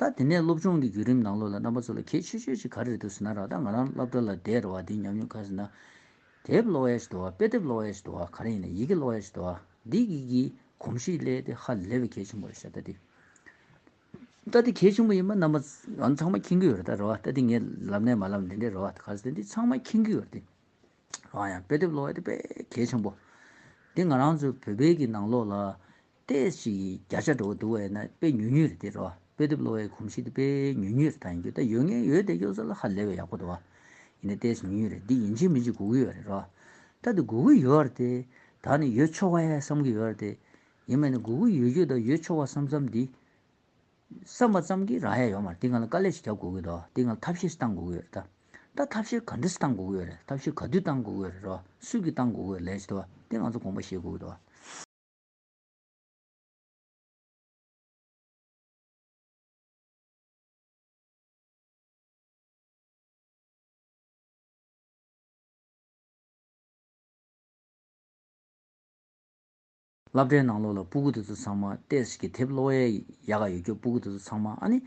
ད་དེ་ནས་སློབ་སྦྱོང་གི་བརྒྱུད་རིམ་ནང་ལོ་ལ་རྣམ་པ་ཚོ་ལ་གལ་ཆེ་ཤོས་ཤིག་ག་རེ་རེད་འདུག་ཟེར་ན་རག་ད་ང་རང་སློབ་གྲྭ་ལ་བསྡད་རེ་བ་འདི་ཉམས་མྱོང་ཁ་ཟེར་ན། དེབ་ཀློག་ཡ་ཞིག་དུ་བ་དཔེ་དེབ་ཀློག་ཡ་ཞིག་དུ་བ་ག་རེ་ཡིན་ན་ཡི་གེ་ཀློག་ཡ་ཞིག་དུ་བ་འདི་གི་གི་གོམས་གཤིས་སླད་དེ་ཧ་ལས་པའི་གལ་ཆེན་པོ་རེད་ཤག་ད་དེ། ད་དེ་གལ་ཆེན་པོ་ཡིན་པ་རྣམ་པ་ང་ཚང་མ་མཁྱེན་གྱི་ཡོད་རེད་ད་རེ་བ་ད་དེ་ངས་ལབ་ནས་མ་ལབ་ནས་འདི་འདྲ་རེད་བ་ག་ཟེར་ཏེ་འདི་ཚང་མ་མཁྱེན་གྱི་ཡོད་དེ། རང་ཡང་དཔེ་དེབ་ཀློག་ཡ་དེ་དཔེ་གལ་ཆེན་པོ། དེ་ང་རང་ཚོའི་བོད་པའི་གི་ནང་ལོ་ལ། ལྟས་ཤིག་བརྒྱ་ཆ་འགྲོ་བ་འདུག་བས་ན་དཔེ་ཉུལ་ཉུལ་རེ་འདི་རོ། དཔེ་དེབ་གློ་བའི་གོམས་གཤིས་དེ་དཔེ་ཉུལ་ཉུལ་རེ་དང་ཡོད་ད་ཡོད་ངན་ཡོད་དེ་གཡོ་ས་ལ་ཧ་ལས་བས་ཡག་པོ་འདུག་བ། ཡིན་ན་ལྟས་ཤིག་ཉུལ་ཉུལ་རེ་འདི་ཡིན་གཅིག་མིན་གཅིག་སྒུག་གི་ཡོད་རེ་རོ། ད་དེ་སྒུག་གི་ཡོད་རེ་དེ་དག་ནི་ཡོད་ཆོག་བས་བསམ་གི་ཡོད་རེ་དེ། ཡིན་མེད་ནི་སྒུག་གི་ཡོད་རྒྱུ་དང་ཡོད་ཆོག་བ་བསམ་བསམ་འདི། བསམ་པ་ཙམ་གྱིས་རང་ཡ་ཡོད་མ་རེད་འདི་ང་ལ་དཀའ་ལས་ཤིག་རྒྱབ་སྒུག་གི་འདུག་འདི་ང་ལ་ཐབས་ཤེས་ཤིག་བཏང་སྒུག་གི་ཡོད་རེ་ད། ད་ཐབས་ཤེས་ག་འདྲ་ཞིག་བཏང་སྒུག་གི་ཡོད་རེ་ཐབས་ཤེས་ག་དུས་བཏང་སྒུག་གི་ཡོད་རེ་རོ། སུས་ཀྱིས་བཏང་སྒུག་གི་ཡོད་རེ་ལས་ཅི་འདུག་བ་འདི་ང་ཚོ་དགོངས་པ་བཞེས་སྒུག་གི་འདུག་བ། བསླབ་གྲྭའི་ནང་ལོགས་ལ་སྤུ་གུ་དེ་ཚོ་ཚང་མ་ཏེས་ཀྱི་དེབ་ཀློག་ཡ་ག་ཡོད་རྒྱུ་སྤུ་གུ་དེ་ཚོ་ཚང་མ་ཨ་ནི།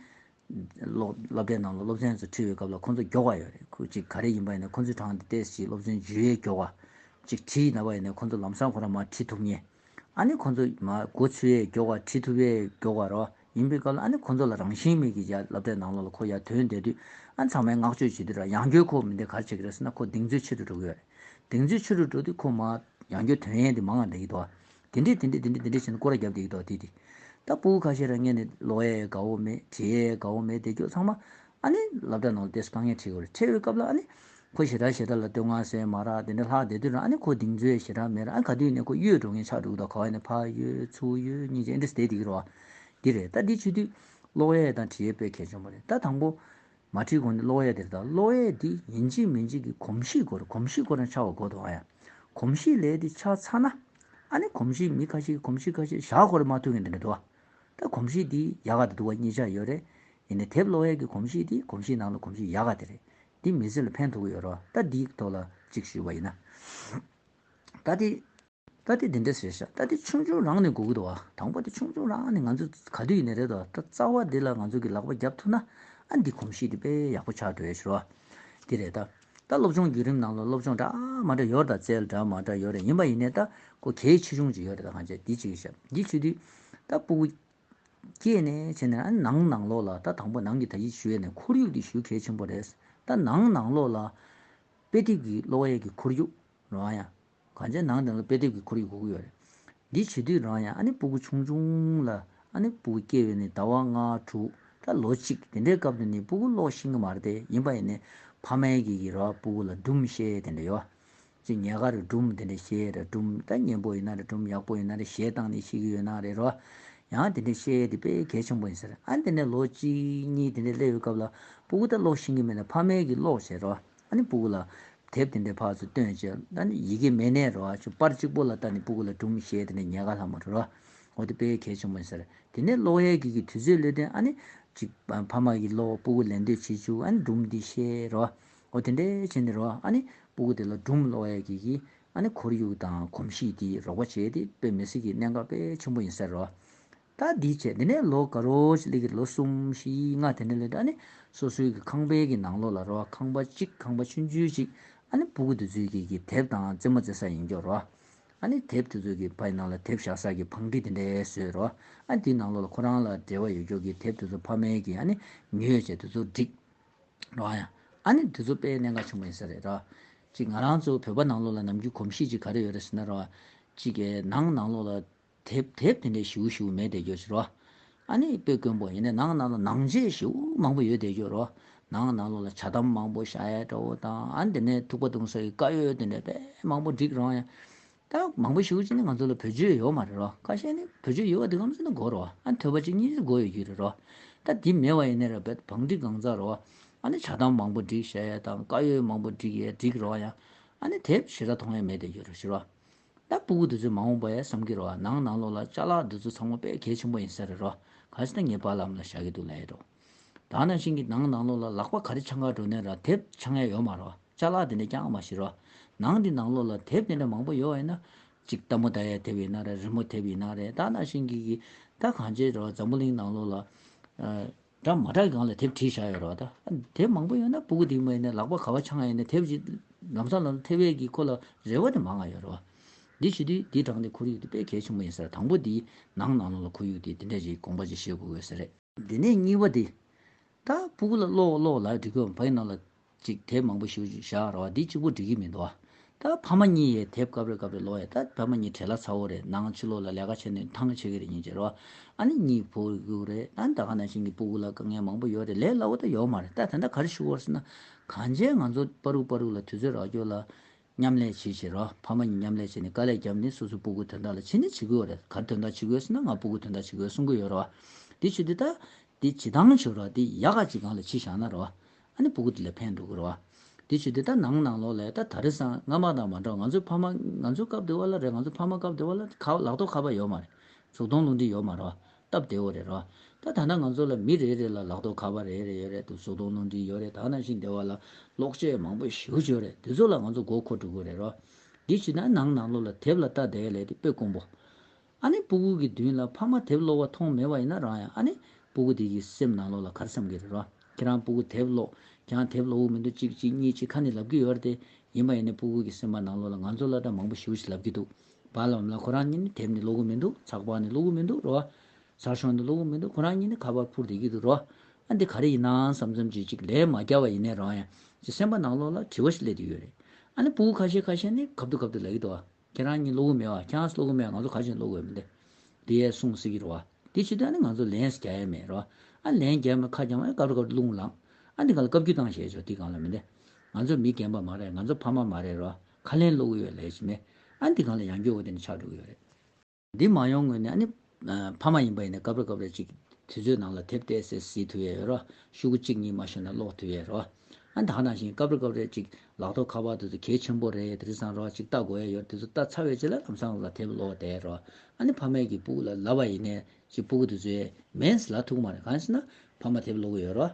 སློབ་གྲྭའི་ནང་ལ་སློབ་ཚན་ཚོ་འཁྲིད་པའི་སྐབས་ལ་ཁོ་ཚོ་མགྱོགས་པ་ཡོད་རེད་ཁུ་གཅིག་ག་རེ་ཡིན་པ་ཡིན་ན་ཁོ་ཚོའི་དྲང་དེ་ལྟས་ཞིག་སློབ་ཚན་བརྗོད་ཡས་མགྱོགས་བ་གཅིག་འཁྲིད་ན་བ་ཡིན་ན་ཁོ་ཚོ་ལམ་སང་ཁོ་རང་མ་འཁྲིད་ཐུབ་ངེས། ཨ་ནི་ཁོ་ཚོ་མ་གོ་ཚུལ་ཡས་མགྱོགས་བ་འཁྲིད་ཐུབ་ཡས་མགྱོགས་བ་རོ་ཡིན་པའི་སྐབས་ལ་ཨ་ནི་ཁོ་ཚོ་ལ་རང་བཞིན་མེད་ཀི་ཡ་སླབ་གྲྭའི་ནང་ལ་ལ་ཁོ་ཡ་དོན་འདས་དུས་ཨ་ཚང་མས་བསྔགས་བརྗོད་བྱེད་དུས་ར་ཡང་སྐྱོ་ཁོ་མི་འདི་གར་བྱེད་ཀི་རེད་ཟེར་ན་ཁོ་གདེང་ཚོད་ཆེ་རུ་འགྲོ་གི་ཡོད་རེད་གདེང་ཚོད་ཆེ་རུ་འགྲོ་དུས་ཁོ་མ་ཡང་སྐྱོ་དོན་ཡས་འདི་མང་ང་འདྲ་ཡིད་དོ། དེ་འདྲས་དེ་འདྲས་དེ་འདྲས་དེ་འདྲས་བྱས་ན་ཀོ་ར་བརྒྱབ་བསྡད་ཀྱི་འདུག་དེ་དེ། ད་སྤུ་གུ་ཁ་ཤས་རང་ཉལ་ནས་ལོ་ཡའི་དགའ་བོ་མེད་བྱེས་ཡའི་དགའ་བོ་མེད་བསྡད་ཁྱོད་ཚང་མ། ཨ་ནི་ལབ་སྒྲ་ནང་ལ་བསྡད་སོ་དང་ངས་ཁྲིད་དགོས་རེད་ཁྲིད་འོས་སྐབས་ལ་ཨ་ནི། ཁོ་ཞེ་དྲག་ཞེ་དྲག་ལ་བསྟོད་བསྔགས་ཟེར་མ་རག་དེ་འདྲས་ལྷག་བསྡད་དུས་རང་ཨ་ནི་ཁོ་གདིང་ཚོད་ཞེ་དྲག་མེད་རང་ཨ་ནི་ག་དུས་ནས་ཁོ་གཡོས་འགྲོ་མཁན་ཆགས་འགྲོ་གི་དང་ག་བ་ནས་ཕ་གཡོས་ཚུ་གཡོས་གཉིས་ཀྱིས་ཨེ་འདྲས་བསྡད་བསྡད་ཀྱི་རོ། འདི་རེད་ད་འདི་ཆུ་དུས། ལོ་ཡའི་དང་གྲི་ཡའི་དཔེ་གལ་ཆེན་པོ་རེད་ད་དང་པོ། མ་བྲིས་གོང་ནས་གློག་གཡས་དེར་བལྟ། གློག་གཡས་དེ་ཡིན་གཅིག་མིན་གཅིག་གི་གོམས་གཤིས་སྐོར་གོམས་གཤིས་སྐོར་ན་ཆགས་བ་གོ་དོ་ཨ་ཡ། གོམས་གཤིས་ལས་དེ་ཆགས་ཚར་ན། ཨ་ནི་གོམས་གཤིས་མི་ཁ་ཤས་ཀྱི་གོམས་གཤིས་ཁ་ཤས་བཞག་གོ་རེ་མ་ཐུག་གིན་དེ་འདྲ་འདུག་ཨ། ད་གོམས་གཤིས་དེ་ཡག་ག་དེ་འདུག་བ་གཉིས་ཆ་ཡོད་རེད། ཡིན་ནའི་དེབ་གློག་གཡས་ཀྱི་གོམས་གཤིས་དེ་གོམས་གཤིས་ནང་ལ་གོམས་གཤིས་ཡག་ག་དེ་རེད། འདི་མི་ཚེ་ལ་ཕན་ཐོགས་གི་ཡོད་རོགས་ད་འདིའི་ཐོག་ལ་གཅིག་ཞུས་བ་ཡིན་ན། ད་དེ། རྟ་དེ་འདི་འདྲས་ཟེར་བཞག་རྟ་དེ་ཆུང་ཆུང་རང་ནས་འགུག་གི་འདུག་བ་དང་པོ་དེ་ཆུང་ཆུང་རང་ནས་ང་ཚོ་ག་དུས་ཡིན་ནས་རེད་དོ་རྟ་རྩ་བ་འདི་ལ་ང་ཚོ་གི་ལག་པ་རྒྱབ་ཐུབ་ན་ཨ་འདི་གོམས་གཤིས་འདི་དཔེ་ཡག་པོ་ཆགས་འགྲོ་ཡས་ཞུ་བ་འདི་རེད་རྟ་སློབ་སྦྱོང་བརྒྱུད་རིམ་ནང་ལ་སློབ་སྦྱོང་འདྲ་མ་འདྲ་ཡོད་རེད་རྟ་རྩལ་འདྲ་མ་འདྲ་ཡོད་རེད་ཡིན་པ་ཡིན་ནས་རྟ་སྒོ་གལ་ཆེ་ཆུང་ཅིག་ཡོད་རེད་རྟ་གང་བྱས་འདི་ཅིག་ཞབས་འདི་ཆུ་དུས་རྟ་སྤུ་གུ་སྐྱེས་ནས་བྱས་ནས་ཨ་ནང་ནང་ལོགས་ལ་རྟ་དང་པོ་ནང་གི་ད་ཡིག་ཞུ་ཡས་ནས་ཁོར་ཡུག་འདི་ཞུ་གལ་ཆེན་པོ་རེད་རྟ་ནང་ནང་ལོགས་ལ་དཔེ་དེབ་ཀྱི་གློག་ཡས་ཀྱི་ཁོར་ཡུག་རང་ཡང་གང་ཅན་ནང་དེ་ལ་དཔེ་དེབ་ཀྱི་ཁོར་ཡུག་གོ་གི་ཡོད་རེད། འདི་བྱེད་དུས་རང་ཡང་ཨ་ནེ་སྤུ་གུ་ཆུང་ཆུང་ལ་ཨ་ནེ་སྤུ་གུ་སྐྱེ་བའི་ནི་ཟླ་བ་ལྔ་དྲུག་དང་ལོ་གཅིག་དེ་འདྲའི་སྐབས་དུ་ནི་སྤུ་གུ་ཀློག་ཤེས་ཀྱི་མ་རེད་དེ་ཡིན་པ་ཡིན་ནི་ཕ་མའི་གིས་ཀྱི་ར་བ་སྤུ་གུ་ལ་སྦྲུམ་བཤད་དེ་འདྲ་ཡོད། ཅེས་ཉལ་ཁ་རུ་སྦྲུམ་དེ་འདྲ་བཤད་རེད་སྦྲུམ་ད་ཉན་པོ་ཡིན་ན་རེད་སྦྲུམ་ཡག་པོ་ཡིན་ན་རེད་བཞེས་སྟངས་ནི་ཤེས་ཀྱི་ཡོད་ན་རེད་རོ། ཡང་དེ་འདྲ་བཤད་དེ་དཔེ་གལ་ཆེན་པོ་ཡིན་ཟེར་ཨ་དེ་ནས་ལོ་གཅིག་གཉིས་དེ་འདྲ་སླེབས་ཡོད་སྐབས་ལ་སྤུ་གུ་ད་ཀློག་ཤེས་ཀྱི་མེད་ན་ཕ་མའི་གིས་ཀློག་བྱེད་རོ། ཨ་ནི་སྤུ་གུ་ལ། དེབ་དེ་འདྲའི་བར་དུ་སྟོན་ཅེས་ཨ་ནི་ཡི་གེ་མེད་ནས་རོ། པར་གཅིག་པོ་ལ་ལྟ་ནས་སྤུ་གུ་ལ་སྒྲུང་ཞེས་དེ་འདྲ་ཉལ་ག་ལྷག་མ་རེ་རོ། འོ་དེ་དཔེ་གལ་ཆེན་པོ་ཡིན་ཟེར། དེ་ནས་གློག་གཡས་འགྱེད་ཀྱི་དུས་ཚོད་ལོས་དོན་ཨ་ནི། ཅིག། ཕ་མ་ཡིས་གློག་སྤུ་གུ་ལེན་འདོད་བྱེད་ཅུག་ཨ་ནི་སྒྲུང་འདི་བཤད་རོ། འོ་དེ་འདྲའི་བྱས་ནས་རོ་ཨ་ནི། སྤུ་གུ་དེ་ལ་སྒྲུང་གློག་གཡས་འགྱེད་ཀྱིས་ཨ་ནི་ཁོར་ཡུག་དང་གོམས་གཤིས་དེའི་རོགས་པ་བྱས་ཏེ་དཔེ་མི་སྲིད་ཀྱི་གནད་འགག་དཔེ་ཆེན་པོ་ཡིན་ཟེར་རོ། ད་འདི་བྱས་དེ་ནས་ལོ་དགའ་རོགས་ཅིག་ལས་ཀྱི་ལོ་གསུམ་བཞི་ལྔ་དེ་ནས་ལོས་ཏེ་ཨ་ནི་སོ་སོའི་གི་ཁང་པའི་གི་ནང་ལོགས་ལ་རོ་ཁང་པ་གཅིག་ཁང་པ་ཆུན་ཆུན་ཅིག་ཨ་ནི་སྤུ་གུ་དེ་ཚོའི་གི་གི་དེབ་དང་རྩེད་མོ་རྩེ་ས་ཡིན་སྐྱོ་རོ། ཨ་ནི་དེབ་དེ་ཚོ་གི་ཕ་ཡི་ནང་ལ་དེབ་བཞག་ས་གི་བང་སྒྲིག་དེ་འདྲས་བཟོས་རོ། ཨ་དེའི་ནང་ལོགས་ལ་ཁོ་རང་ལ་འབྲེལ་བ་ཡོད་སྐྱོ་གི་དེབ་དེ་ཚོ་ཕ་མའི་གི་ཨ་ནི་མྱོས་བྱས་དེ་ཚོ་བསྒྲིགས་རོ། ཨ་ནི་དེ་ཚོ་དཔེ་གནད་འགའ་བྱུང་བ་ཡིན་ས་རེད་རོ། ཅིག་ང་རང་ཚོ་བོད་པ་ནང་ལོགས་ལ་ནམ་རྒྱུན་གོམས་གཤིས་ཅིག་ག་རེ་ཡོད་རེད་ཟེར་ན་རོ། ཅིག་གི་ནང་ནང་ལོགས་ལ་དེབ་དེབ་དེ་འདྲའི་བྱིའུ་བྱིའུ་མེད་བསྡད་རྒྱུར་བྱེད་རོགས། ཨ་ནི་དཔེ་དཀོན་པོ་ཡིན་ནའི་ནང་ན་ལོ་ནང་བྱེའུ་བྱིའུ་མང་པོ་ཡོད་བསྡད་རྒྱུར་རོགས། ནང་ན་ལོ་ལ་བྱ་དམ་མང་པོ་ཤ་ཡའི་དགྲ་བོ་དང་ཨ་ནི་དེ་ནས་ཐུག་པ་བཏུང་ས་ཡི་དཀའ་ཡོལ་དེ་འདྲའི་དཔེ་མང་པོ་བསྒྲིགས་རོགས། ད་མང་པོ་བྱིའུ་བྱིའུ་ནི་ང་ཚོ་ལ་བོད་ཆོས་ཡོད་མ་རེད་རོགས་ཁ་ཤས་ནི་བོད་ཆོས་ཡོད་བ་དེ་ཁམས་གསུམ་དུ་གོ་རོགས་ཨ་ནི་ཐོས་པ་གཅིག་གཉིས་ཚོད་གོ་ཡོད་རྒྱུ་རེད་རོགས། ད་དེ་མེད་བ་ཡིན་ནའི་ར་བལ་བང་བསྒྲིགས་གང་ཚར་རོགས། ཨ་ནི་བྱ་དམ་མང་པོ་བསྒྲིགས་ཤ་ཡའི་དང་དཀའ་ཡོལ་མང་པོ་བསྒྲིགས་ཡས་བསྒྲིགས་རོགས། ཨ་ནི་དེབ་བྱི་ར་དོང་ཡས་མེད་བསྡད་རྒྱུར་བྱེད་རོགས། ད་སྤུ་གུ་འདི་ཚོས་མ་འོངས་པ་ཡང་བསམ་གྱི་རོ་ཨ་ནང་ནང་ལོག་ལ་ལྕགས་ལག་འདི་ཚོ་ཚང་མ་པས་གལ་ཆེན་པོ་ཡིན་ས་རེད་རོ་ག་ཚེ་ད་ངས་བར་ལམ་ལ་བཞག་གི་འདུག་ལ་ཡེད་རོ། ད་ནང་བཞིན་གྱི་ནང་ནང་ལོག་ལ་ལག་པ་ག་རེ་ཆང་ཁར་འགྲོ་ནས་ར་དེབ་ཆང་ཡ་ཡོད་མ་རོ་ལྕགས་ལག་འདི་འདྲ་རྐྱང་མ་ཞིག་རོ། ནང་འདི་ནང་ལོག་ལ་དེབ་དེ་འདྲ་མང་པོ་ཡོད་ཨེ་ན། གཅིག་རྟ་མོ་དར་ཡ་དེབ་ཡིན་ན་ར་རི་མོ་དེབ་ཡིན་ན་རེད་ད་ནང་བཞིན་གྱི་གི་ད་གང་བྱེད་རོ་འཛམ་བུ་གླིང་ནང་ལོག་ལ། སྒྲ་མ་གྲགས་གང་ལ་དེབ་བྲིས་བཞག་ཡོད་རེད་བ་ད། དེབ་མང་པོ་ཡོད་ན་པུཀུ་དེ་མ་ཡིན་ན་ལག་པ་ག་བ་འཆང་ཡིན་ན་དེབ་ཅིག་ལམ་སང་ལ་ཐེབས་བས་ཀྱི་ཁོ་ལ་རེ་བ་དེ་མང་ང་ཡོད་རེད་བ། འདི་ཞུ་དུས་འདི་དྲངས་དེ་འཁུར་ཡུག་དེ་དཔེ་གལ་ཆེན་པོ་ཡིན་ཟེར་དང་པོ་དེའི་ནང་ནང་ལོག་ལ་འཁུར་ཡུག་དེ་དེ་འདྲ་ཞིག་དགོངས་པ་ཅིག་བཞེས་དགོས་དགོས་ཟེར། དེ་ནས་གཉིས་པ་དེ། ད་པུཀུ་ལ་ཀློག་ཀློག་ལ་འབྲི་དགོས་བ་ཕ་ཡི་ནང་ལ་ཅིག་དེབ་མང་པོ་ཞིག་བཞག་ར་བ་འདི་གཅིག་པོ་འགྲིག་གི་མི་འདུག་ད་ཕ་མ་གཉིས་ཡས་དེབ་གབ་རེ་གབ་རེ་ལོ་ཡས་ད་ཕ་མ་གཉིས་བྲེལ་ལ་ཚ་བོ་རེད་ནང་ཕྱི་ལོག་ལ་ལས་ཀ་བྱེད་ནས་ཐང་ཆེ་གི་རེད་ཉིན་བྱེད་ར་བ་ཨ་ནེ་གཉིས་བུ་གུ་རེད་ད་ད་ག་ནང་བཞིན་གི་སྤུ་གུ་ལ་དཀའ་ངལ་མང་པོ་ཡོད་རེད་ལས་སླ་བོ་ད་ཡོག་མ་རེད་ད་དེ་འདྲ་ག་རེ་ཞུ་བར་སེ་ན་གང་བྱས་ང་ཚོ་པ་རུག་པ་རུག་ལ་དུས་ཚོད་རག་རྒྱོ་ལ་མཉམ་ལས་བྱེད་བྱེད་ར་བ་ཕ་མ་གཉིས་མཉམ་ལས་བྱེད་ནས་དཀའ་ལས་བརྒྱབ་ནས་སོ་སོའི་སྤུ་གུ་དོན་དག་ལ་ཕྱི་ནས་བྱེད་དགོས་རེད་ག་རེ་དོན་དག་བྱེད་དགོས་སེ་ན་ང་སྤུ་གུ་དོན་དག་བྱེད་དགོས་གསུང་གི་ཡོད་ར་བ་འདི་བྱེད་དེ་ད་འདི་བྱེད་ཐང་བྱོས་ར་བ་འདི་ཡག་ག་ཅིག་གང་ལ་ཕྱི་བཞག་ན་ར་བ་ཨ་ནི་བུ་གུ་དེ་ལ་ཕན་འདོགས་དགོས་རེད་བ། དེ་ཆོས་དེ་ལྟར་ནང་ནང་ལོག་ལས་ད་ད་རེ་སང་ང་མ་དང་མ་འདྲ་བ་ང་ཚོའི་ཕ་མ་ང་ཚོའི་སྐབས་དེ་བ་ལ་རེད་ང་ཚོའི་ཕ་མ་སྐབས་དེ་བ་ལ་ཁ་བ་ལག་ཐོག་ཁ་བ་ཡོད་མ་རེད་ཟུག་སྟོང་རླུང་འཕྲིན་ཡོད་མ་རེད་བ་སྟབས་བདེ་བོ་རེད་རེད་བ། ད་ད་ནང་ང་ཚོ་ལ་མི་རེ་རེ་ལ་ལག་ཐོག་ཁ་བ་རེ་རེ་ཡོད་རེད་འདུག་ཟུག་སྟོང་རླུང་འཕྲིན་ཡོད་རེད་ད་ནང་བཞིན་དེ་བ་ལ་གློག་ཆས་མང་པོ་ཞེའུ་བྱོས་རེད་དེ་ཚོ་ལ་ང་ཚོ་མགོ་འཁོར་འགྲོ་དགོས་རེད་རེད་བ། དེ་བྱས་ན་ནང་ནང་ལོག་ལ་དེབ་ལ་ལྟ་དེ་ལས་དེ་དཔེ་དཀོན་པོ། ཨ་ནི་སྤུ་གུ་གི་མདུན་ལ་ཕ་མ་དེབ་ཀློག་བ་མཐོང་མེད་བ་ཡིན་ན་རང་ཡང་ཨ་ནི་སྤུ་གུ་དེ་གིས་སེམས་ནང་ལོག་ལ་གར་བསམ་གི་རེད་རོ། ཁྱེད་རང་སྤུ་གུ་དེབ་ཀློག་ཀྱང་དེབ་ཀློག་འུག་མི་འདུག་ཅིག་ཅིག་གཉིས་གཅིག་ཁ་ནས་ལབ་ཀི་ཡོད་རེད་དེ། ཡིན་པ་ཡིན་ནས་སྤུ་གུ་གི་སེམས་པ་ནང་ལོག་ལ་ང་ཚོ་ལ་སྒྲ་མང་པོ་ཞིག་ལབ་ཀི་འདུག་བ་ལ་འམ་ལ་ཁོ་རང་གཉིས་ནི་དེབ་ནི་ཀློག་གི་མི་འདུག་ཚགས་པར་ནི་ཀློག་གི་མི་འདུག་རོ། ཟར་ཤོག་ནི་ཀློག་གི་མི་འདུག་ཁོ་རང་གཉིས་ནི་ཁ་པར་འཕུར་བསྡད་ཀི་འདུག་རོ། ཨ་འདི་ག་རེ་ཡིན་ནའང་བསམ་བསམ་ཅིག་ཅིག་ལན་མ་བརྒྱབ་བ་ཡིན་ནས་རང་ཡང་ཀྱི་སེམས་པ་ནང་ལོག་ལ་དྲི་བ་ཞིག་སླེབ་ཏུ་ཡོད་རེད། ཨ་ནི་སྤུ་གུ་ཁ་ཤས་ཁ་ཤས་ནི་གབ་ཏུ་གབ་ཏུ་ལབ་ཡོད་དོ། ཁྱེད་རང་གཉིས་སློབ་བུ་མེད་བ་ཁྱེད་རང་སློབ་བུ་མེད་ང་ཚོ་ག་བཞིན་སློབ་དགོས་མི་འདུག་འདི་ཡས་གསུང་སི་གི་རུ་བ་འདི་ཕྱི་དོན་ནི་ང་ཚོ་ལན་སི་རྒྱ་ཡས་མེད་རུ་བ་ཨ་ལན་རྒྱ་ཡས་མེད་ཁ་བྱང་ཨ་ཀ་རུ་ཀ་རུ་རླུང་ལངས་ཨ་འདི་ག་ལ་བཀའ་བརྒྱུད་བཏང་ཞེས་བྱོ་འདི་གང་ལ་མི་འདི་ང་ཚོ་མི་རྒན་པ་མ་རེད་ང་ཚོ་ཕ་མ་མ་རེད་རུ་བ་ཁ་ལན་སློབ་བུ་ཡོད་ལས་ཅི་མེད་ཨ་འདི་གང་ལ་ཡང་སྐྱོ་བོ་དེ་ནི་ཆགས་འགྲོ་གི་ཡོད་རེད། འདི་མ་ཡོང་ངོས་ནས་ཨ་ནི། ཕ་མ་ཡིན་པ་ཡིན་ན་སྐབས་རེ་སྐབས་རེ་ཅིག་དུས་ཚོད་ནང་ལ་དེབ་དེ་སེ་ཟིག་དུས་ཡོད་རོ། ཤུག་གུ་གཅིག་གཉིས་མ་ཤོར་ན་ཀློག་དུས་ཡོད་རོ། ཨ་ནི་ད་ནང་བཞིན་སྐབས་རེ་སྐབས་རེ་ཅིག་ལག་ཐོག་ཁ་པར་དུ་དུ་གས་ཆེན་པོ་རེ་ཡོད་དེ་རེ་བཟང་རོགས་ཅིག་ལྟ་དགོས་ཡ་ཡོད་དེ་ཚོ་ལྟ་ཚར་བའི་རྗེས་ལ་ལམ་སང་ལ་དེབ་ཀློག་བསྡད་རོ། ཨ་ནི་ཕ་མས་ཀྱིས་སྤུ་གུ་ལ་ལབ་པ་ཡིན་ནས་ཅིག་སྤུ་གུ་དེ་ཚོས་མེས་ལ་ཐུག་མ་རེད་གང་ཞེ་ན། ཕ་མ་དེབ་ཀློག་གི་ཡོད་རོ།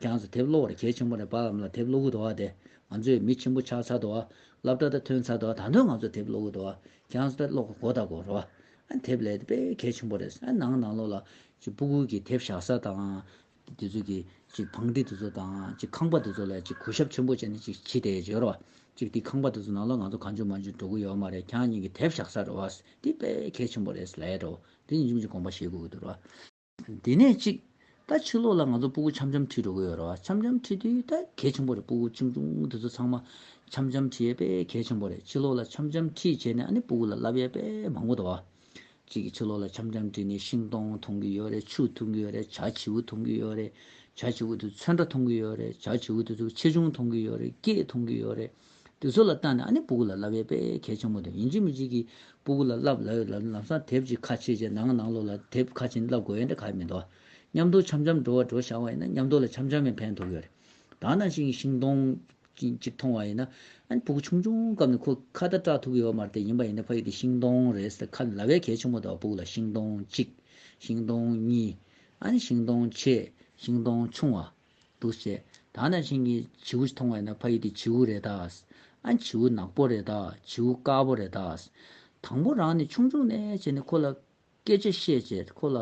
ཁྱང་ཚོ་དེབ་ཀློག་བར་གས་ཆེན་པོ་རེད་བར་ལམ་ལ་དེབ་ཀློག་གི་འདུག་བ་དེ་ང་ཚོས་མི་ཆེན་པོ་ཆགས་ཚར་འདུག་བ། སླབ་གྲ་ད་ཐོན་ཚར་འདུག་བ་ད་དོན་ང་ཚོ་དེབ་ཀློག་གི་འདུག་བ། གྱང་དཔེ་ཀློག་གི་སྒོ་དང་སྒོ་ར། དེབ་ལས་དཔེ་གལ་ཆེན་པོ་རེད། ནང་ནང་ལོགས་ལ། སྤུ་གུར་གྱི་དེབ་བཞག་ས་དང། དེ་ཚོ་གི། བང་སྒྲིག་དེ་ཚོ་དང། ཁང་པ་དེ་ཚོ་ལ་གུ་ཞབས་ཆེན་པོ་བྱས་ནས་ཕྱི་དེ་བརྗོད་རོགས། དེ་ཁང་པ་དེ་ཚོ་ནང་ལོགས་ང་ཚོ་གང་བྱུང་མ་བྱུང་འགྲོ་གི་ཡོད་མ་རེད་གྱང་གཉིས་ཀྱི་དེབ་བཞག་ས་རེད། དེ་དཔེ་གལ་ཆེན་པོ་རེད། དེ་ནི་ཅུང་ཅུང་དགོངས་པ་བཞེས་དགོས་ཀྱི་འདུག་རོགས། དེ་ནས་ཅིག། ད་ཕྱི་ལོགས་ལ་ང་ཚོ་སྤུ་གུ་འཆམ་འཆམ་ཁྲིད་འགྲོ་གི་ཡོད་རེད་བ། འཆམ་འཆམ་ཁྲིད་དུས་ད་གལ་ཆེན་པོ་རེད་སྤུ་གུ་ཆུང་ཆུང་དེ་ཚོ་ཚང་མ། འཆམ་འཆམ་ཁྲིད་ཡས་པས་གལ་ཆེན་པོ་རེད་ཕྱི་ལོགས་ལ་འཆམ་འཆམ་ཁྲིད་བྱས་ནས་ཨ་ནི་སྤུ་གུ་ལ་བསླབ་ཡས་པས་མང་པོ་འདུག་བ། ཅིག་ཕྱི་ལོགས་ལ་འཆམ་འཆམ་ཁྲིད་ནས་ཤིང་སྡོང་མཐོང་གི་ཡོད་རེད་ཆུ་མཐོང་གི་ཡོད་རེད་བྱ་བྱིའུ་མཐོང་གི་ཡོད་རེད། བྱ་བྱིའུ་དེ་ཚོས་ཚོན་ཁྲ་མཐོང་གི་ཡོད་རེད་བྱ་བྱིའུ་དེ་ཚོས་ཆེ་ཆུང་མཐོང་གི་ཡོད་རེད་སྐད་མཐོང་གི་ཡོད་རེད། དེ་ཚོ་ལ་བརྟག་ནས་ཨ་ནི་སྤུ་གུ་ལ་བསླབ་ཡས་པས་གལ་ཆེན་པོ་འདུག་ཡིན་གཅིག་མི་གཅིག་གིས་སྤུ་གུ་ལ་བསླབ་ལ་ལམ་སང་དེབ་ཅིག་ཁ་ཕྱེས་རྗེས་ནང་ནང་ལོགས་ལ་དེབ་ཁ་ཕྱིན་བསླབ་དགོས་ཡས་འདྲ་ག་ཡས་མི་འདུག་མཉམ་དུ་འཆམ་འཆམ་འགྲོ་བ་འགྲོ་བཞག་བ་ཡིན་ན་མཉམ་དུ་ལ་འཆམ་འཆམ་ཡང་ཕན་ཐོགས་ཡོད་རེད་དྭ་ནང་བཞིན་ཤིང་སྡོང་གཅིག་མཐོང་བ་ཡིན་ན་ཨ་ནི་སྤུ་གུ་ཆུང་ཆུང་སྐབས་ནས་ཁོ་ཁ་བརྡ་སྐྲག་ཐུབ་ཀྱི་ཡོད་མ་རེད་ཡིན་པ་ཡིན་ན་ཕ་ཡུལ་དེ་ཤིང་སྡོང་རེད་ཟེར་ཁ་ནས་ལབ་ཡས་གལ་ཆེན་པོ་འདུག་སྤུ་གུ་ལ་ཤིང་སྡོང་གཅིག་ཤིང་སྡོང་གཉིས་ཨ་ནི་ཤིང་སྡོང་ཆེ་ཤིང་སྡོང་ཆུང་བ། འདུག་བཤད། ད་ནངས་ཤིང་གི་བྱིའུ་ཞིག་མཐོང་བས་ན་ཕ་ཡིས་འདི་བྱིའུ་རེད་ད། ཨ་བྱིའུ་ནག་པོ་རེད་ད་བྱིའུ་དཀར་པོ་རེད་ད། དང་པོ་རང་ནི་ཆུང་ཆུང་ནས་བྱས་ནས་ཁོ་ལ་སྐད་ཆ་བཤད་བྱས་ཁོ་ལ་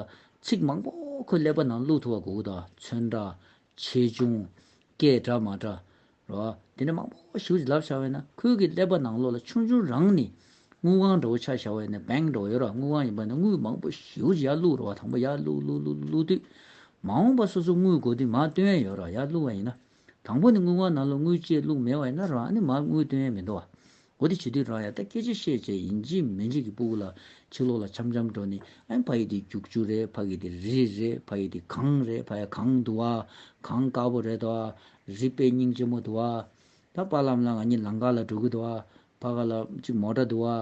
ཚིག་མང་པོ་ཁོའི་ཀླད་པ་ནང་བླུགས་ཐུབ་པ་དགོས་གོ་ད། ཚོན་འདྲ། ཆེ་ཆུང། སྐད་འདྲ་མ་འདྲ། རོ། དེ་ནས་མང་པོ་ཞིག་བྱིན་རླབས་བྱ་བས་ན་ཁོལ་གྱི་ཀླད་པ་ནང་ལོགས་ལ་ཆུང་ཆུང་རང་ནི། དངུལ་ཁང་འདྲ་བོ་ཆ་བྱ་བས་ན Bank འདྲ་བོ་ཡོད་རོགས་དངུལ་ཁང་ཡིན་པ་ན་དངུལ་མང་པོ་ཞིག་ཡར་བླུག་རོགས་དང་པོ་ཡར་བླུག་བླུག་བླུག་བླུག་བླུག་དུས། མ་འོངས་པ་སོ་སོ་དངུལ་དགོས་དུས་མར་སྟོན་ཡས་ཡོད་རོགས་ཡར་བླུག་བ་ཡིན་ན། དང་པོ་ནི་དངུལ་ཁང་ནང་ལོགས་དངུལ་བཅས་བླུག་མེད་བ་ཡིན་ན་རང་ནི་མར་དངུལ་སྟོན་ཡས་མི་འདུག་བ། གོ་བདེ་བྱེད་དུས་རང་ཡང་ད་སྐད་ཅིག་ཤེས་བྱས་ཡིན་གཅིག་མིན་གཅིག་གི་སྤུ་གུ་ལ་ཕྱི་ལོག་ལ་འཆམ་འཆམ་འགྲོ་ནི་ཨེ་ཕ་ཡི་དེ་རྒྱུག་རྒྱུག་རེད་ཕ་གི་དེ་རི་རི་རེད་ཕ་ཡི་དེ་གངས་རེད་ཕ་ཡ་གངས་འདུག་ཨ་གངས་དཀར་པོ་རེད་དོ་ཨ་རི་དཔེ་རྙིང་ལྕི་མོ་འདུག་ཨ་ད་ཕ་ལམ་ལ་ང་གཉིས་ལང་ཀ་ལ་འགྲོ་གི་འདུག་ཨ་ཕ་ག་ལ་གཅིག་མོ་འདྲ་འདུག་ཨ་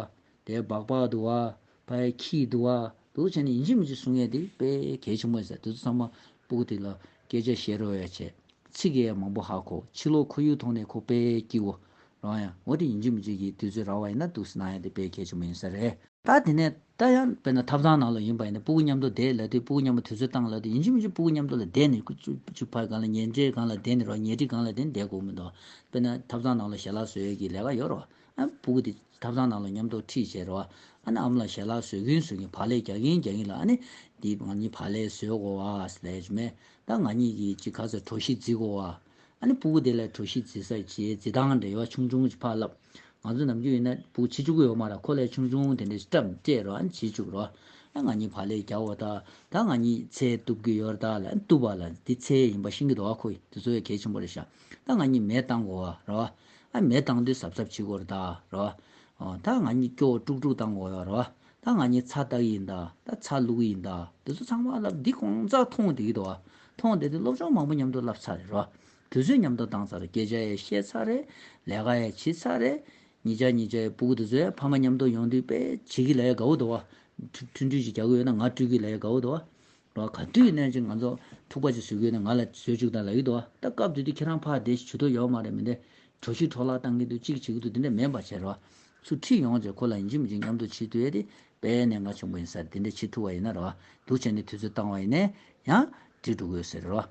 དེ་སྦག་སྦག་འདུག་ཨ་བའི་ཁྱི་ཡི་འདུལ་བ། དེ་ཚོ་བྱས་ནས་ཡིན་གཅིག་མིན་གཅིག་གསུང་ཡས་དེ་དཔེ་གལ་ཆེན་པོ་ཟེར་དེ་ཚོ་ཚང་མ་སྤུག་དེ་ལ་སྐད་ཆ་བཤད་རོལ་བས་བྱས། ཚིག་གི་ཡས་མང་པོ་ཧ་གོ་ཕྱི་ལོག་ཁོར་ཡུག་མཐོང་ནས་ཁོ་དཔེ་ཀྱི་བོ། རང་ཡང་ངོ་དེ་ཡིན་གཅིག་མིན་གཅིག་གིས་དུས་ཚོད་རག་བ་ཡིན་ན་འདུག་སྣང་ཡས་དེ་དཔེ་གལ་ཆེན་པོ་ཡིན་ས་རེད། ད་དེ་ནས་ད་ཡང་དཔེར་ན་ཐབ་ཚང་ནང་ལོག་ཡིན་པ་ཡིན་ན་སྤུག་གི་མཉམ་དུ་བསྡད་ལ་དེ་སྤུག་གི་མཉམ་པོ་དུས་ཚོད་བཏང་ལ་དེ་ཡིན་གཅིག་མིན་གཅིག་སྤུག་གི་མཉམ་དུ་ལ་བསྡད་ནས་ཁུ་ཚུར་ཕྱིར་ཕར་གང་ལ་ཉལ་འདྲེ་གང་ལ་བསྡད་ནས་རོགས་ཉལ་ཁྲི་གང་ལ་བསྡད་ནས་བསྡད་དགོས་མི་འདུག་དཔེར་ན་ཐབ་ཚང་ནང་ལོག་ཞལ་ལག་བཟོས་ཡས་ཀྱི་ལས་ཀ་ཡོད་རོགས་སྤུ་གུ་དེ་ཐབ་ཚང་ནང་ལ་ཉོམ་དོགས་ཁྲིད་བྱས་རོ། ཨ་ནི་ཨ་མ་ལ་ཞལ་ལག་ཟོས་གིན་ཟོས་གིན་བག་ལས་རྒྱག་གིན་རྒྱག་གིན་ལ་ཨ་ནི། འདི་ང་གཉིས་བག་ལས་ཟོས་དགོ་བ། ལས་མེད་ད་ང་གཉིས་ཀྱིས་ཅིག་ག་ཚོད་གྲོ་ཞིག་བརྫི་དགོ་བ། ཨ་ནི་སྤུ་གུ་དེ་ལས་གྲོ་ཞིག་བརྫི་ས་བྱས་བརྫི་སྟངས་འདྲ་ཡོད་ཨ་ཆུང་ཆུང་ཅིག་ཕར་ལབ། ང་ཚོ་ནམ་རྒྱུན་ཡིན་ན་སྤུ་གུ་ཕྱི་བཅུག་གི་ཡོད་མ་ར་ཁོ་ལས་ཆུང་ཆུང་དེ་འདྲ་ཅིག་བཀྲམ་བཅས་རོ་ཨ་ནི་བྱེད་བཅུག་རོ། ཨ་ང་གཉིས་བག་ལས་རྒྱག་བོ་ད་ད་ང་གཉིས་ཚེ་གཏུབ་གི་ཡོད་ར་ད་ལ་ཨ་ནི་གཏུབ་བ་ལ་འདི་ཚེ་ཡིན་པ་ཤིང་གི་རྡོ་བ་ཁོ་ཡིན་འདི་ཚོ་ཡོད་གལ་ཆེན་པོ་རེད་ཤག་ད་ང་གཉིས་མེད་བཏང་དགོ་བ་ར། ཨ་མའི་བཏང་དུས་ཟབ་ཟབ་ཕྱི་གོར་ད་ར་བ། ད་ང་གཉིས་སྐྱོ་བོ་དཀྲུག་དཀྲུག་བཏང་གོ་ཡ་ར་བ། ད་ང་གཉིས་ཚ་བཏགས་ཡིན་ད། ད་ཚ་བླུགས་ཡིན་ད། འདི་ཚོ་ཚང་མ་ཨ་ལབ་འདི་གོང་ཙག་མཐོང་བདེ་གི་ད་བ། མཐོང་བདེ་དེ་སློབ་སྦྱོང་མང་པོ་མཉམ་དུ་བསླབ་ཚར་རེད་ར་བ། དུས་ཚོད་མཉམ་དུ་བཏང་ཚར་རེད་སྐད་ཆ་ཡས་བཤད་ཚར་རེད། ལས་ཀ་ཡས་བྱི་ཚར་རེད། གཉིས་ཆ་གཉིས་ཆའི་པུ་གུ་དེ་ཚོས་ཕ་མ་མཉམ་དུ་ཡོང་དུས་དཔེ་བྱེད་ཀི་ལ་ཡས་དགའ་བོ་ད་བ། ཐུན་ཐུན་གྱིས་རྒྱག་གི་ཡོད་ན་ང་སྤྲུལ་གི་ལ་ཡས་དགའ་བོ་ད་བ། ལོ་ག་དུས་ནས་ཀྱི་ང་ཚོ་ཐུག་པ་ཅིག་བཟོས་གི་ཡོད་ན་ང་ལ་བཟོས་བཅུག་ད་ལ་ཡོད་དོ་ད་སྐབས་དུས་དུས་ཁྱེད་རང་ཕར་བསྡད་ཤིག་ཇུ་ཏོ་ཡོག་མ་རེད་མི་འདེ་གྲོ་བཞི་འཕྲོག་བརླག་གཏང་གི་འདུག་གཅིག་བྱེད་གི་འདུག་དེ་འདྲ་མེད་པ་བྱེད་རོགས་སུ་ཁྲིད་ཡོང་རྗེས་ཁོ་ལ་ཡིན་གཅིག་མི་གཅིག་མཉམ་དུ་ཕྱིར་ཐུལ་ཡས་དེ་པས་ནས་ང་ཆུང་པ་ཡིན་སར་དེ་འདྲ་ཕྱིར་ཐུལ་བ་ཡིན་ན་རོགས་འདུག་བྱས་ནས་དུས་ཚོད་བཏང་བ་ཡིན་ནས་ཡང་བྲིས་འགྲོ་དགོས་ཟེར་རོགས།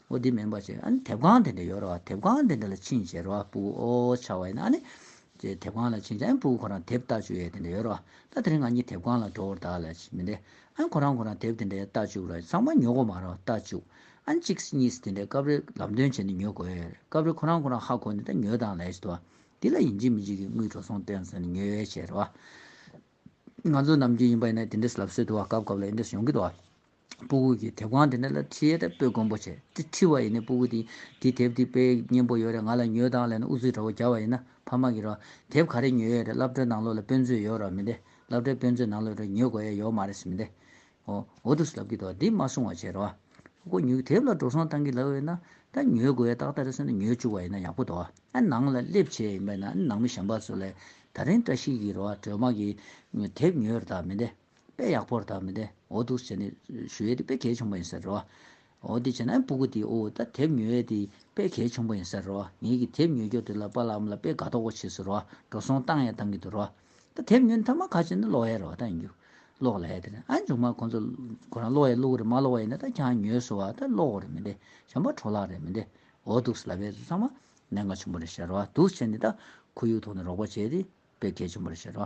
ཨོ་དེ་མིན་པ་ཅེས་ཨ་ནི་དེབ་ཁང་དེ་འདྲ་ཡོད་རེད་བ་དེབ་ཁང་དེ་འདྲ་ལ་ཕྱིན་ཅེས་རེད་བ་སྤུ་གུ་ཨོ་ཨོ་ཆགས་བ་ཡིན་ན་ཨ་ནི། ཅེས་དེབ་ཁང་ལ་ཕྱིན་ཅེས་ཨ་ནི་སྤུ་གུ་ཁོ་རང་དེབ་ལྟ་བཅུ་ཡས་དེ་འདྲ་ཡོད་རེད་བ་ད་དེ་རིང་ང་གཉིས་དེབ་ཁང་ལ་འགྲོ་འོར་ད་ལས་མི་འདེད་ཨ་ནི་ཁོ་རང་ཁོ་རང་དེབ་དེ་འདྲ་ཡས་ལྟ་བཅུག་ར་ཚང་མ་ཉོ་གོ་མ་རེད་བ་ལྟ་བཅུག་ཨ་ནི་གཅིག་གཉིས་སེ་དེ་འདྲས་སྐབས་རེར་ལམ་སྟོན་བྱས་ནས་ཉོ་དགོས་ཡས་རེད་སྐབས་རེར་ཁོ་རང་ཁོ་རང་ཧ་གོ་ནས་ད་ཉོས་དང་ལས་བྱེད་དོ་འདི་ལ་ཡིན་གཅིག་མིན་གཅིག་གིས་དངུལ་འགྲོ་སོང་སྟོན་ཟེར་ནས་ཉོས་ཡས་བྱས་རེད་བ། ང་ཚོ་ནམ་རྒྱུན་ཡིན་པ་ཡིན་ན་དེ་འདྲས་ལབ་སྲོལ་འདུག་བ་སྐབས་སྐབས་ལ་ཨེ་འདྲས་ཡོང་གི་འདུག་བ། སྤུ་གུ་གི་དེབ་གང་དེ་ནས་ལ་ཁྲི་ཡེ་དེབ་སྤོས་དགོན་པོ་ཆེ་ཏི་ཁྲི་བ་ཡིན་ནི་སྤུ་གུ་དེ་དེ་དེབ་དེ་སྤེལ་སྙན་པོ་ཡོད་རེད་ང་ལ་ཉོས་དང་ལེན་ཨུ་ཚུགས་འདྲ་བོ་རྒྱག་བ་ཡིན་ན་ཕ་མ་གི་རོ་དེབ་ག་རེ་ཉོས་ཡོད་རེད་བླ་བྲོའི་ནང་ལོགས་ལ་དཔོན་ཚོས་ཡོད་རོགས་མི་འདེ་བླ་བྲོའི་དཔོན་ཚོས་ནང་ལོགས་རེ་ཉོས་དགོས་ཡས་ཡོག་མ་རེད་སེ་མི་འདེ་ཨོ་ཨོ་འདུག་སེ་ལབ་ཀི་འདུག་འདི་མ་གསུང་བ་བྱེད་རོགས། སྤུ་གུ་ཉོས་གི་དེབ་ལ་འགྲོ་སོང་བཏང་གི་ལབ་ཡོད་ན་ད་ཉོས་དགོས་ཡས་ཏག་ཏག་རེད་སེམས་ན་ཉོས་བཅུག་བ་ཡིན་ན་ཡག་པོ་འདུག་ཨ་ནང་ལ་སླེབས་བྱས་ཡིན་པས་ན་ཨ་ནང་མི་གཞན་པ་ཚོ་ལས་ད་རིང་བཀྲ་ཤིས་ཀི་རོ་བྲོས་མ་གི་དེབ་ཉོས་རེད་ད་མི་འདེ། དཔེ་ཡག་པོར་དག་མི་འདེ་འོ་འདུག་བྱས་ནས་ཞུ་ཡས་དེ་དཔེ་གལ་ཆུང་པ་ཡིན་ཟེར་རོ། འོ་འདི་བྱས་ན་སྤུ་གུ་དེའི་འོ་ད་དེབ་ཉོ་ཡས་དེ་དཔེ་གལ་ཆུང་པ་ཡིན་ཟེར་རོ་ངེད་ཀྱི་དེབ་ཉོ་རྒྱོ་དེ་ལ་པ་ལ་འམ་ལ་དཔེ་དགའ་དོག་པོ་བྱེད་ཟེར་རོ་འགྲོ་སོང་བཏང་ཡས་བཏང་གི་འདུག་རོ། ད་དེབ་ཉོ་ནས་ཐ་མ་ག་བྱས་ན་ལོག་ཡས་རེད་བ་ད་ཡིན་རྒྱུ། ལོག་ལ་ཡས་དེ་ནས་ཨ་མཇུག་མ་ཁོང་ཚོ་ཁོ་རང་ལོག་ཡས་ལུག་རེད་མ་ལོག་བ་ཡིན་ན་ད་ཁྱང་ཉོས་སོ་བ་ད་ལོག་རེད་མི་འདེ་བྱམས་པ་གྲོ་ལག་རེད་མི་འདེ་འོ་འདུག་ཟེར་ལ་བས་ཚོ་ཚང་མ་ནད་འགའ་ཆུང་པོ་རེད་ཟེར་རོ་འདུག་བྱས་ནས་ད་ཁོ་ཡུལ་ཐོག་ནས་རོགས་པ་བྱས་ཏེ་དཔེ་གལ་ཆུང་པོ་རེད་ཟེར་རོ།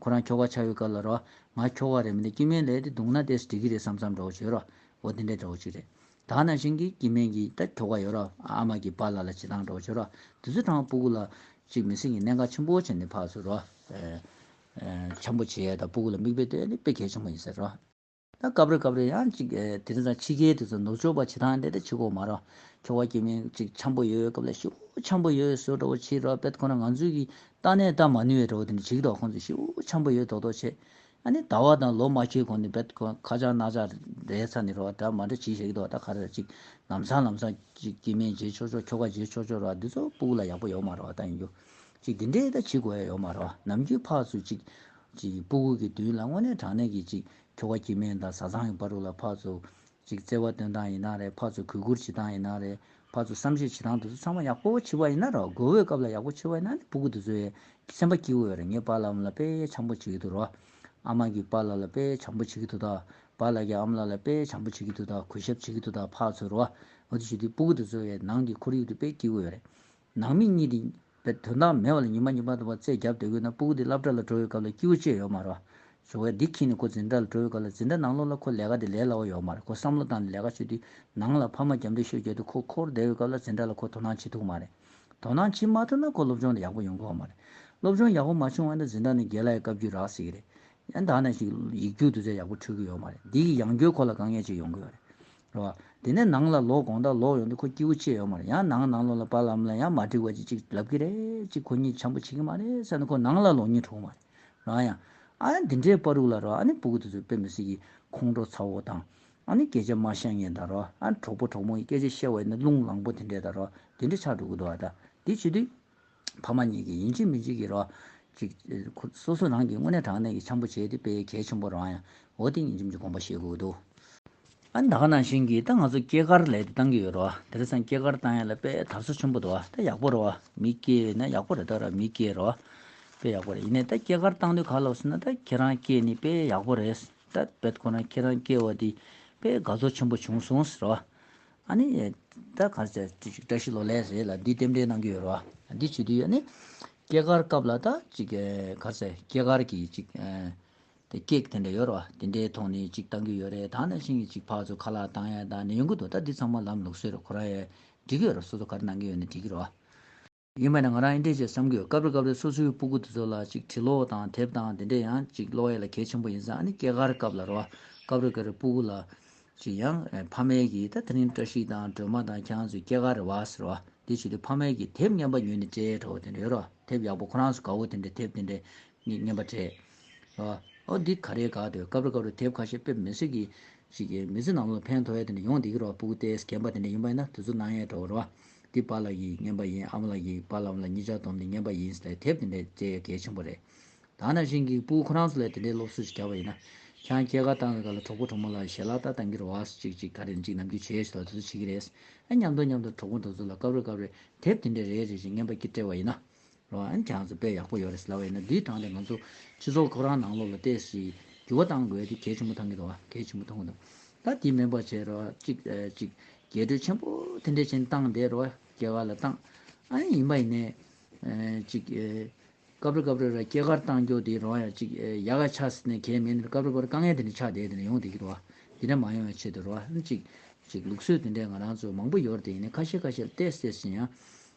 ཁོ་རང་ཁྱོ་ག་ཆགས་ཡོད་སྐབས་ལ་རོ། ང་ཁྱོ་ག་རེད་མི་འདི་སྐྱིད་སྨན་ལས་དེ་བརྡུངས་ན་དེས་འགྲིག་གི་རེད་བསམ་བསམ་འདྲ་བོ་བྱོས་རོ། འོ་དེ་འདྲའི་འདྲ་བོ་ཅིག་རེད། དག་ན་བཞིན་གྱིས་སྐྱིད་སྨན་གྱིས་ད་ཁྱོ་ག་ཡོད་རོ། ཨ་མ་གྱིས་པཱ་ལ་ལ་བྱེད་སྟངས་འདྲ་བོ་བྱོས་རོ། དེ་ཚོའི་གྲང་བ་སྤུ་གུ་ལ། ཅིག་མི་སེམས་ཀྱི་གནད་འགག་ཆེན་པོ་བྱས་ནས་ཕག་ཚོས་རོ། ཆམ་པོ་བྱེད་ཡས་དང་སྤུ་གུ་ལ་མིག་དཔེ་ལྟོས་ནི་དཔེ་གལ་ཆེན་པོ་ཡིན་ཟེར་རོ། ད་སྐབས་རེ་སྐབས་རེ་ཡང་གཅིག་དེ་རིང་ད་ཕྱི་རྒྱལ་དེ་ཚོ་ནུབ་ཕྱོགས་པ་བྱེད་སྟངས་དེ་འདྲ་བྱེད་དགོས་མ་རོགས། ཁྱོ་བ་ཀྱི་མིང་གཅིག་འཆམ་པོ་ཡོད་སྐབས་ལ་ཤི་བོ་འཆམ་པོ་ཡོད་ཟོས་འགྲོ་བོ་ཕྱིར་རོ་བེད་ཁོ་ན་ང་ཚོས་གི་ཏག་ནས་ལྟ་མ་ནུས་བའི་འགྲོ་བོ་དེ་འདྲ་བྱེད་གི་རོགས་ཁོང་ཚོས་ཤི་བོ་འཆམ་པོ་ཡོད་དོག་དོག་བྱེད་ཨ་ནི་ད་བ་དང་ལོ་མ་ཁྱེར་གོང་ནས་བེད་ཁོ་ཁ་ཆག་ནག་ཆག་རེད་ཚ་ནི་རོགས་གྲ་མ་འདྲ་བྱེད་ཤེས་གི་དོག་ད་ག་རེ་ར་གཅིག་ལམ་སང་ལམ་སང་གཅིག་སྐྱེས་དམན་བརྗེ་ཆོག་ཆོག་ཁྱོ་ག་བརྗེ་ཆོག་ཆོག་རོགས་འདི་ཚོ་སྤུག་ལ་ཡག་པོ་ཡོག་མ་རོགས་ད་ཡིན་རྒྱུ། ཅིག་འདི་འདྲའི་ད་ཇི་དགོས་ཡོད་མ་རེད་བ་ནམ་རྒྱུན་ཕག་ཚོས་ཅིག། ཅིག་སྤུ་གུག་གི་མདུན་ལ་དངོས་གནས་དྲང་གནས་ཀྱིས་ཅིག་ཁྱོ་ག་ཁྱི་སྨན་དང་བཟའ་ཚང་གི་བ་རུ་ལ་ཕག་ཚོ། ཅིག་བརྩེ་བ་སྟོན་སྟངས་ཡིན་ན་རེད་ཕག་ཚོ་གུས་བཀུར་བྱེད་སྟངས་ཡིན་ན་རེད་ཕག་ཚོ་བསམ་ཤེས་བྱེད་སྟངས་འདི་ཚོ་ཚང་མ་ཡག་པོ་བྱེད་པ་ཡིན་ན་རེད་དགོས་འོས་སྐབས་ལ་ཡག་པོ་བྱེད་པ་ཡིན་ན་ནི་སྤུ་གུ་འདི་ཚོའི་སེམས་པ་སྐྱིད་འོས་རེད་ངས་བ་ལམ་ལ་དཔེ་ཆམ་པོ་བྱེད་ཀྱི་འདུག་རོ། ཨ་མ་གིས་བ་ལ་ལ་དཔེ་ཆམ་པོ་བྱེད་ཀྱི་འདུག་ད་བ་ལ་གྱིས་ཨ་མ་ལ་ལ་དཔེ་ཆམ་པོ་བྱེད་ཀྱི་འདུག་ད་གུས་ཞབས་བྱེད་ཀྱི་འདུག་ད་ཕག་ཚོ་རོ། འོ་དེ་ཞུ་དུས་སྤུ་གུ་འདི་ཚོའི་ནང་གི་ཁོར་ཡུག་འདི་དཔེ་སྐྱིད་འོས་རེད། ནང་མི་གཉིས་དེ་བས་དོན་དག་མེད་བ་ལ་ཉི་མ་གཉིས་པ་འདུག་པ་རྩེད་རྒྱབ་སྡོད་དགོས་ན་སྤུ་གུ་དེ་བླ་བྲ་ལ་འགྲོ་བའི་སྐབས་ལ་སྐྱིད་བོ་བཅས་ཡོད་མ་རེད། བྱུང་བས་འདི་ཁྱི་ནི་ཁོ་འཛིན་གྲྭ་ལ་འགྲོ་བའི་སྐབས་ལ་འཛིན་གྲྭ་ནང་ལོགས་ལ་ཁོ་ལས་ཀ་དེ་ལས་སླ་བོ་ཡོད་མ་རེད་ཁོ་བསམ་བློ་བཏང་ནས་ལས་ཀ་བྱོས་དུས་ནང་ལ་ཕ་མ་རྒྱབ་འདེགས་ཤོད་རྒྱབ་དུ་ཁོ་འཁོར་བསྡད་བའི་སྐབས་ལ་འཛིན་གྲྭ་ལ་ཁོ་དོ་སྣང་བྱེད་ཐུབ་མ་རེད། དོ་སྣང་བྱེད་མ་ཐུབ་ན་ཁོ་སློབ་སྦྱོང་དེ་ཡག་པོ་ཡོང་དགོས་བ་མ་རེད། སློབ་སྦྱོང་ཡག་པོ་མ་བྱུང་བ་ན་འཛིན་གྲྭ་ནི་རྒན་ལགས་ཡི་བཀའ་བརྒྱུད་རག་སྲིད་ཀྱི་རེད། ཡང་དག་ན་ཞིག་ཡིག་རྒྱུགས་བསྡུ་ཚད་ཡག་པོ་འཕྲོད་ཀྱི་ཡོད་མ་རེད་འདི་ཡིས་ཡང་སྐྱོད་ཁོ་ལ་དཀའ་ངལ་ཅིག་ཡོང་གི་ཡོད་རེད། ལོ། དེ་ནས་ནང་ལ་ལོག་དགོངས་དག་ལོག་ཡོང་དུས་ཁོ་སྐྱིད་བོ་ཆེ་ཡོད་མ་རེད་ཡང་ནང་ནང་ལོག་ལ་བར་ལམ་ལ་ཡང་མ་འགྲིག་བ་ཅིག་ཅིག་ལབ་གི་རེད་ཅིག་ཁོ་གཉིད་བྱམས་པོ་བྱེད་ཀྱི་མ་རེད་བསམ་ནས་ཁོ་ནང་ལ་ལོག་གཉིད་འཁྲུག་གི་མ་རེད་རང་ཡང། ཨ་ཡ་འདི་འདྲའི་པར་རུག་ལ་རོ་ཨ་ནི་སྤུ་གུ་དེ་ཚོ་དཔེ་མི་སྲིད་ཀྱི་ཁོང་ཁྲོ་ཚ་བོ་དང། ཨ་ནི་སྐད་ཆ་མ་བཤད་ངེས་ད་རོ་ཨ་གྲོགས་པོ་གྲོགས་མོ་ཡི་སྐད་ཆ་བཤད་བ་ཡིན་ན་རླུང་ལངས་པོ་དེ་འདྲས་ད་རོ་དེ་འདྲས་ཆགས་འགྲོ་གི་འདུག་ཨ་ད་འདི་བྱེད་དུས། ཕ་མ་གཉིས་ཀྱིས་ཡིན་གཅིག་མིན་གཅིག་གི་རོགས། གཅིག། སོ་སོ་རང་གིས་དངོས་གནས་དྲང་གནས་ཀྱི་འཆམ་པོ་བྱས་ཏེ་དཔེ་གལ་ཆེན་པོ་རང་ཡང་འོ་ཏི་ཉིས་འཇོམས་ཀྱི་དགོངས་པ་བཞེས་དགོས་ཀྱི་འདུག། ཨ་ནི་ད་ག་ནང་བཞིན་གྱིས་ད་ང་ཚོ་སྐྱེས་སྐར་ལས་དེ་བཏང་གི་ཡོད་རོ། དེར་སང་སྐྱེས་སྐར་བཏང་ཡ་ལ་དཔེ་དར་སོ་ཆེན་པོ་འདུག་ད་ཡག་པོ་རོ། མི་སྐྱེས་ཡོད་ན་ཡག་པོ་རེད་ད་ར་མི་སྐྱེས་རོ། དཔེ་ཡག་པོ་རེད་ཡིན་ནས་ད་སྐྱེས་སྐར་བཏང་དུས་ག་ལོག་སོང་ན་ད་ཁྱེད་རང་སྐྱེས་ནི་དཔེ་ཡག་པོ་རེད། ད་དཔེ་ཁོ་ན་ཁྱེད་རང་སྐྱེས་བ་དེ་དཔེ་དགའ་ཚོར་ཆེན་པོ་བྱུང་སོང་ཟེར་རོ། ཨ་ནི། ད་ག་ཚད་བཀྲ་ཤིས་ལོ་ལེགས་ཟེར་ལ་འདི་རྟེན་འབྲེལ་གནང་གི་ཡོད་རེད་བ། འདི་བྱེད་དུས་ཨ་ནི། སྐྱེས་སྐར་སྐབས་ལ་ད་ཅིག་ག་ཚད་སྐྱེས་སྐར་གྱི་ཅིག། དེ་ཀེག་དེ་འདྲ་ཡོད་རེད་བ། དེ་འདྲའི་ཐོག་ནས་ཅིག་བཏང་གི་ཡོད་རེད་ད་ནང་བཞིན་གྱི་ཅིག་ཕག་ཚོ་ཁ་ལག་བཏང་ཡ་ད་ནི་ཡོང་གི་འདུག་ད་འདི་ཚང་མ་ལམ་ལུགས་སྲོལ་རེད་ཁོ་རང་ཡས་འབྲི་གི་ཡོད་རེད་སོ་སོ་ག་རེ་གནང་གི་ཡོད་ནས་འབྲི་གི་རེད་བ། ཡིན་པས་ན་ང་རང་ཨེ་འདྲས་ཅེས་བསམ་དགོས་སྐབས་རེ་སྐབས་རེ་སོ་སོའི་སྤུ་གུ་དེ་ཚོ་ལ་ཅིག་དྲི་ལོག་དང་དེབ་དང་དེ་འདྲས་ཡང་ཅིག་ཀློག་ཡས་ལ་གལ་ཆེན་པོ་ཡིན་ས་ཨ་ནི་སྐྱེས་སྐར་སྐབས་ལ་རོ་སྐབས་རེ་སྐབས་རེ་སྤུ་གུ་ལ་ཅིག་ཡང་ཕ་མའི་གིས་ད་དེ་རིང་བཀྲ་ཤིས་དང་སྒྲོལ་མ་དང་ཁྱེད་རང་ཚོའི་སྐྱེས་སྐར་རེད་བ་ཟེར་བ་དེ་བྱས་དུས་ཕ་མའི་གིས་དེབ་རྙན་པ་ཉོས་ནས་སྤྲད་དྲ་བོ་དེ་འདྲ་ཡོད་རོ་དེབ་ཡག་པོ་ཁོ་རང་ཚོ་དགའ་བོ་དེ་འདྲས་དེབ་དེ་འདྲས་རྙན་པ་སྤྲད་རེད་བ་ཨོ་འདི་ག་རེད་དགའ་འདོད་སྐབས་རེ་སྐབས་རེ་དེབ་ཁ་ཤས་ཕེབས་མི་སྲིད་གི་ཅིག་མི་ཚེ་ནང་ལོག་ཕན་ཐོག་ཡས་དེ་འདྲས་ཡོང་བསྡད་ཀི་རོ་སྤུ་གུ་ལྟས་གན་པ་དེ་འདྲས་ཡིན་པས་ན་དེ་ཚོ་སྣང་ཡས་དྲ་བོ་རེད་བ། འདི་པ་ལ་ཡིས་བསྙེན་པ་ཡིན་ཨམ་ལ་ཡིས་པ་ལམ་ལ་གཉིས་ཆར་བསྡོམས་ཏེ་བསྙེན་པ་ཡིན་ཟེར་དེབ་དེ་འདྲ་བཅས་ཡོད་གལ་ཆེན་པོ་རེད། ད་ནང་བཞིན་གིས་པུའུ་ཁོ་རང་ཚོ་ལས་དེ་འདྲའི་སློབ་གསོ་ཞིག་བྱ་བ་ཡིན་ན། ཁྱང་སྐྱེས་སྐར་བཏང་བའི་སྐབས་ལ་གྲོགས་པོ་གྲོགས་མོ་ལ་ཞལ་ལག་བལྟ་བཏང་གིར་བ་སོ་ཅིག་ཅིག་ག་རེ་ཅིག་ནམ་རྒྱུན་བྱེད་ཡ་ཞིག་ལ་དེ་ཚོ་བྱེད་ཀྱི་རེད། ཨ་མཉམ་དུ་མཉམ་དུ་གྲོགས་པོ་འདི་ཚོ་ལ་སྐབས་རེ་སྐབས་རེ་དེབ་དེ་འདྲ་རེ་རེ་བཞིན་བསྙེན་པ་ཀྱིས་སྤྲེལ་བ་ཡིན་ན། འོན་ཀྱང་གཟི་དཔལ་ཡག་པོ་ཡོད་རེད་ཟེར་ལ་བས་ན་འདིའི་དྲང་དེ་ང་ཚོ་སྤྱི་ཚོགས་ཁོ་རང་ནང་ལོགས་ལ་བལྟས་སི། འགྱུར་བ་གཏང་དགོས་དེ་གལ་ཆེན་པོ་ཐང་གི་དོ་གལ་ཆེན་པོ་ཐང་གི་དོ། ད་དེ་མིན་པར་བྱས་རོགས་གཅིག་གཅིག། རྒྱས་སྤྲོས་ཆེན་པོ་དེ་འདྲས་བྱིན་བཏང་བསྡད་རོགས་སྐྱེ་གར་ལ་བཏང། ཨ་ཡིན་ཡིན་པ་ཡིན་ནས། གཅིག། སྐབས་རེ་སྐབས་རེ་ར་སྐྱེ་གར་བཏང་རྒྱོ་དེ་རོགས་ཡང་གཅིག་ཡ་ག་ཆགས་སི་ནས་གལ་མིན་ནི་སྐབས་རེ་སྐབས་རེ་དཀའ་ངལ་དེ་འདྲས་ཆགས་བསྡད་དེ་ནས་ཡོང་བསྡད་གི་དོ། དེ་འདྲས་མ་ཡོང་བའི་ཆེད་དུ་རོགས་གཅིག་གཅིག་ལུགས་སྲོལ་དེ་འདྲས་ང་རང་ཚོས་མང་པོ་ཡོར་དེ་ཡིན་ནས་ཁ་ཤས་ཁ་ཤས་ལ་བལྟས་སེ་ཟིན་ཡང།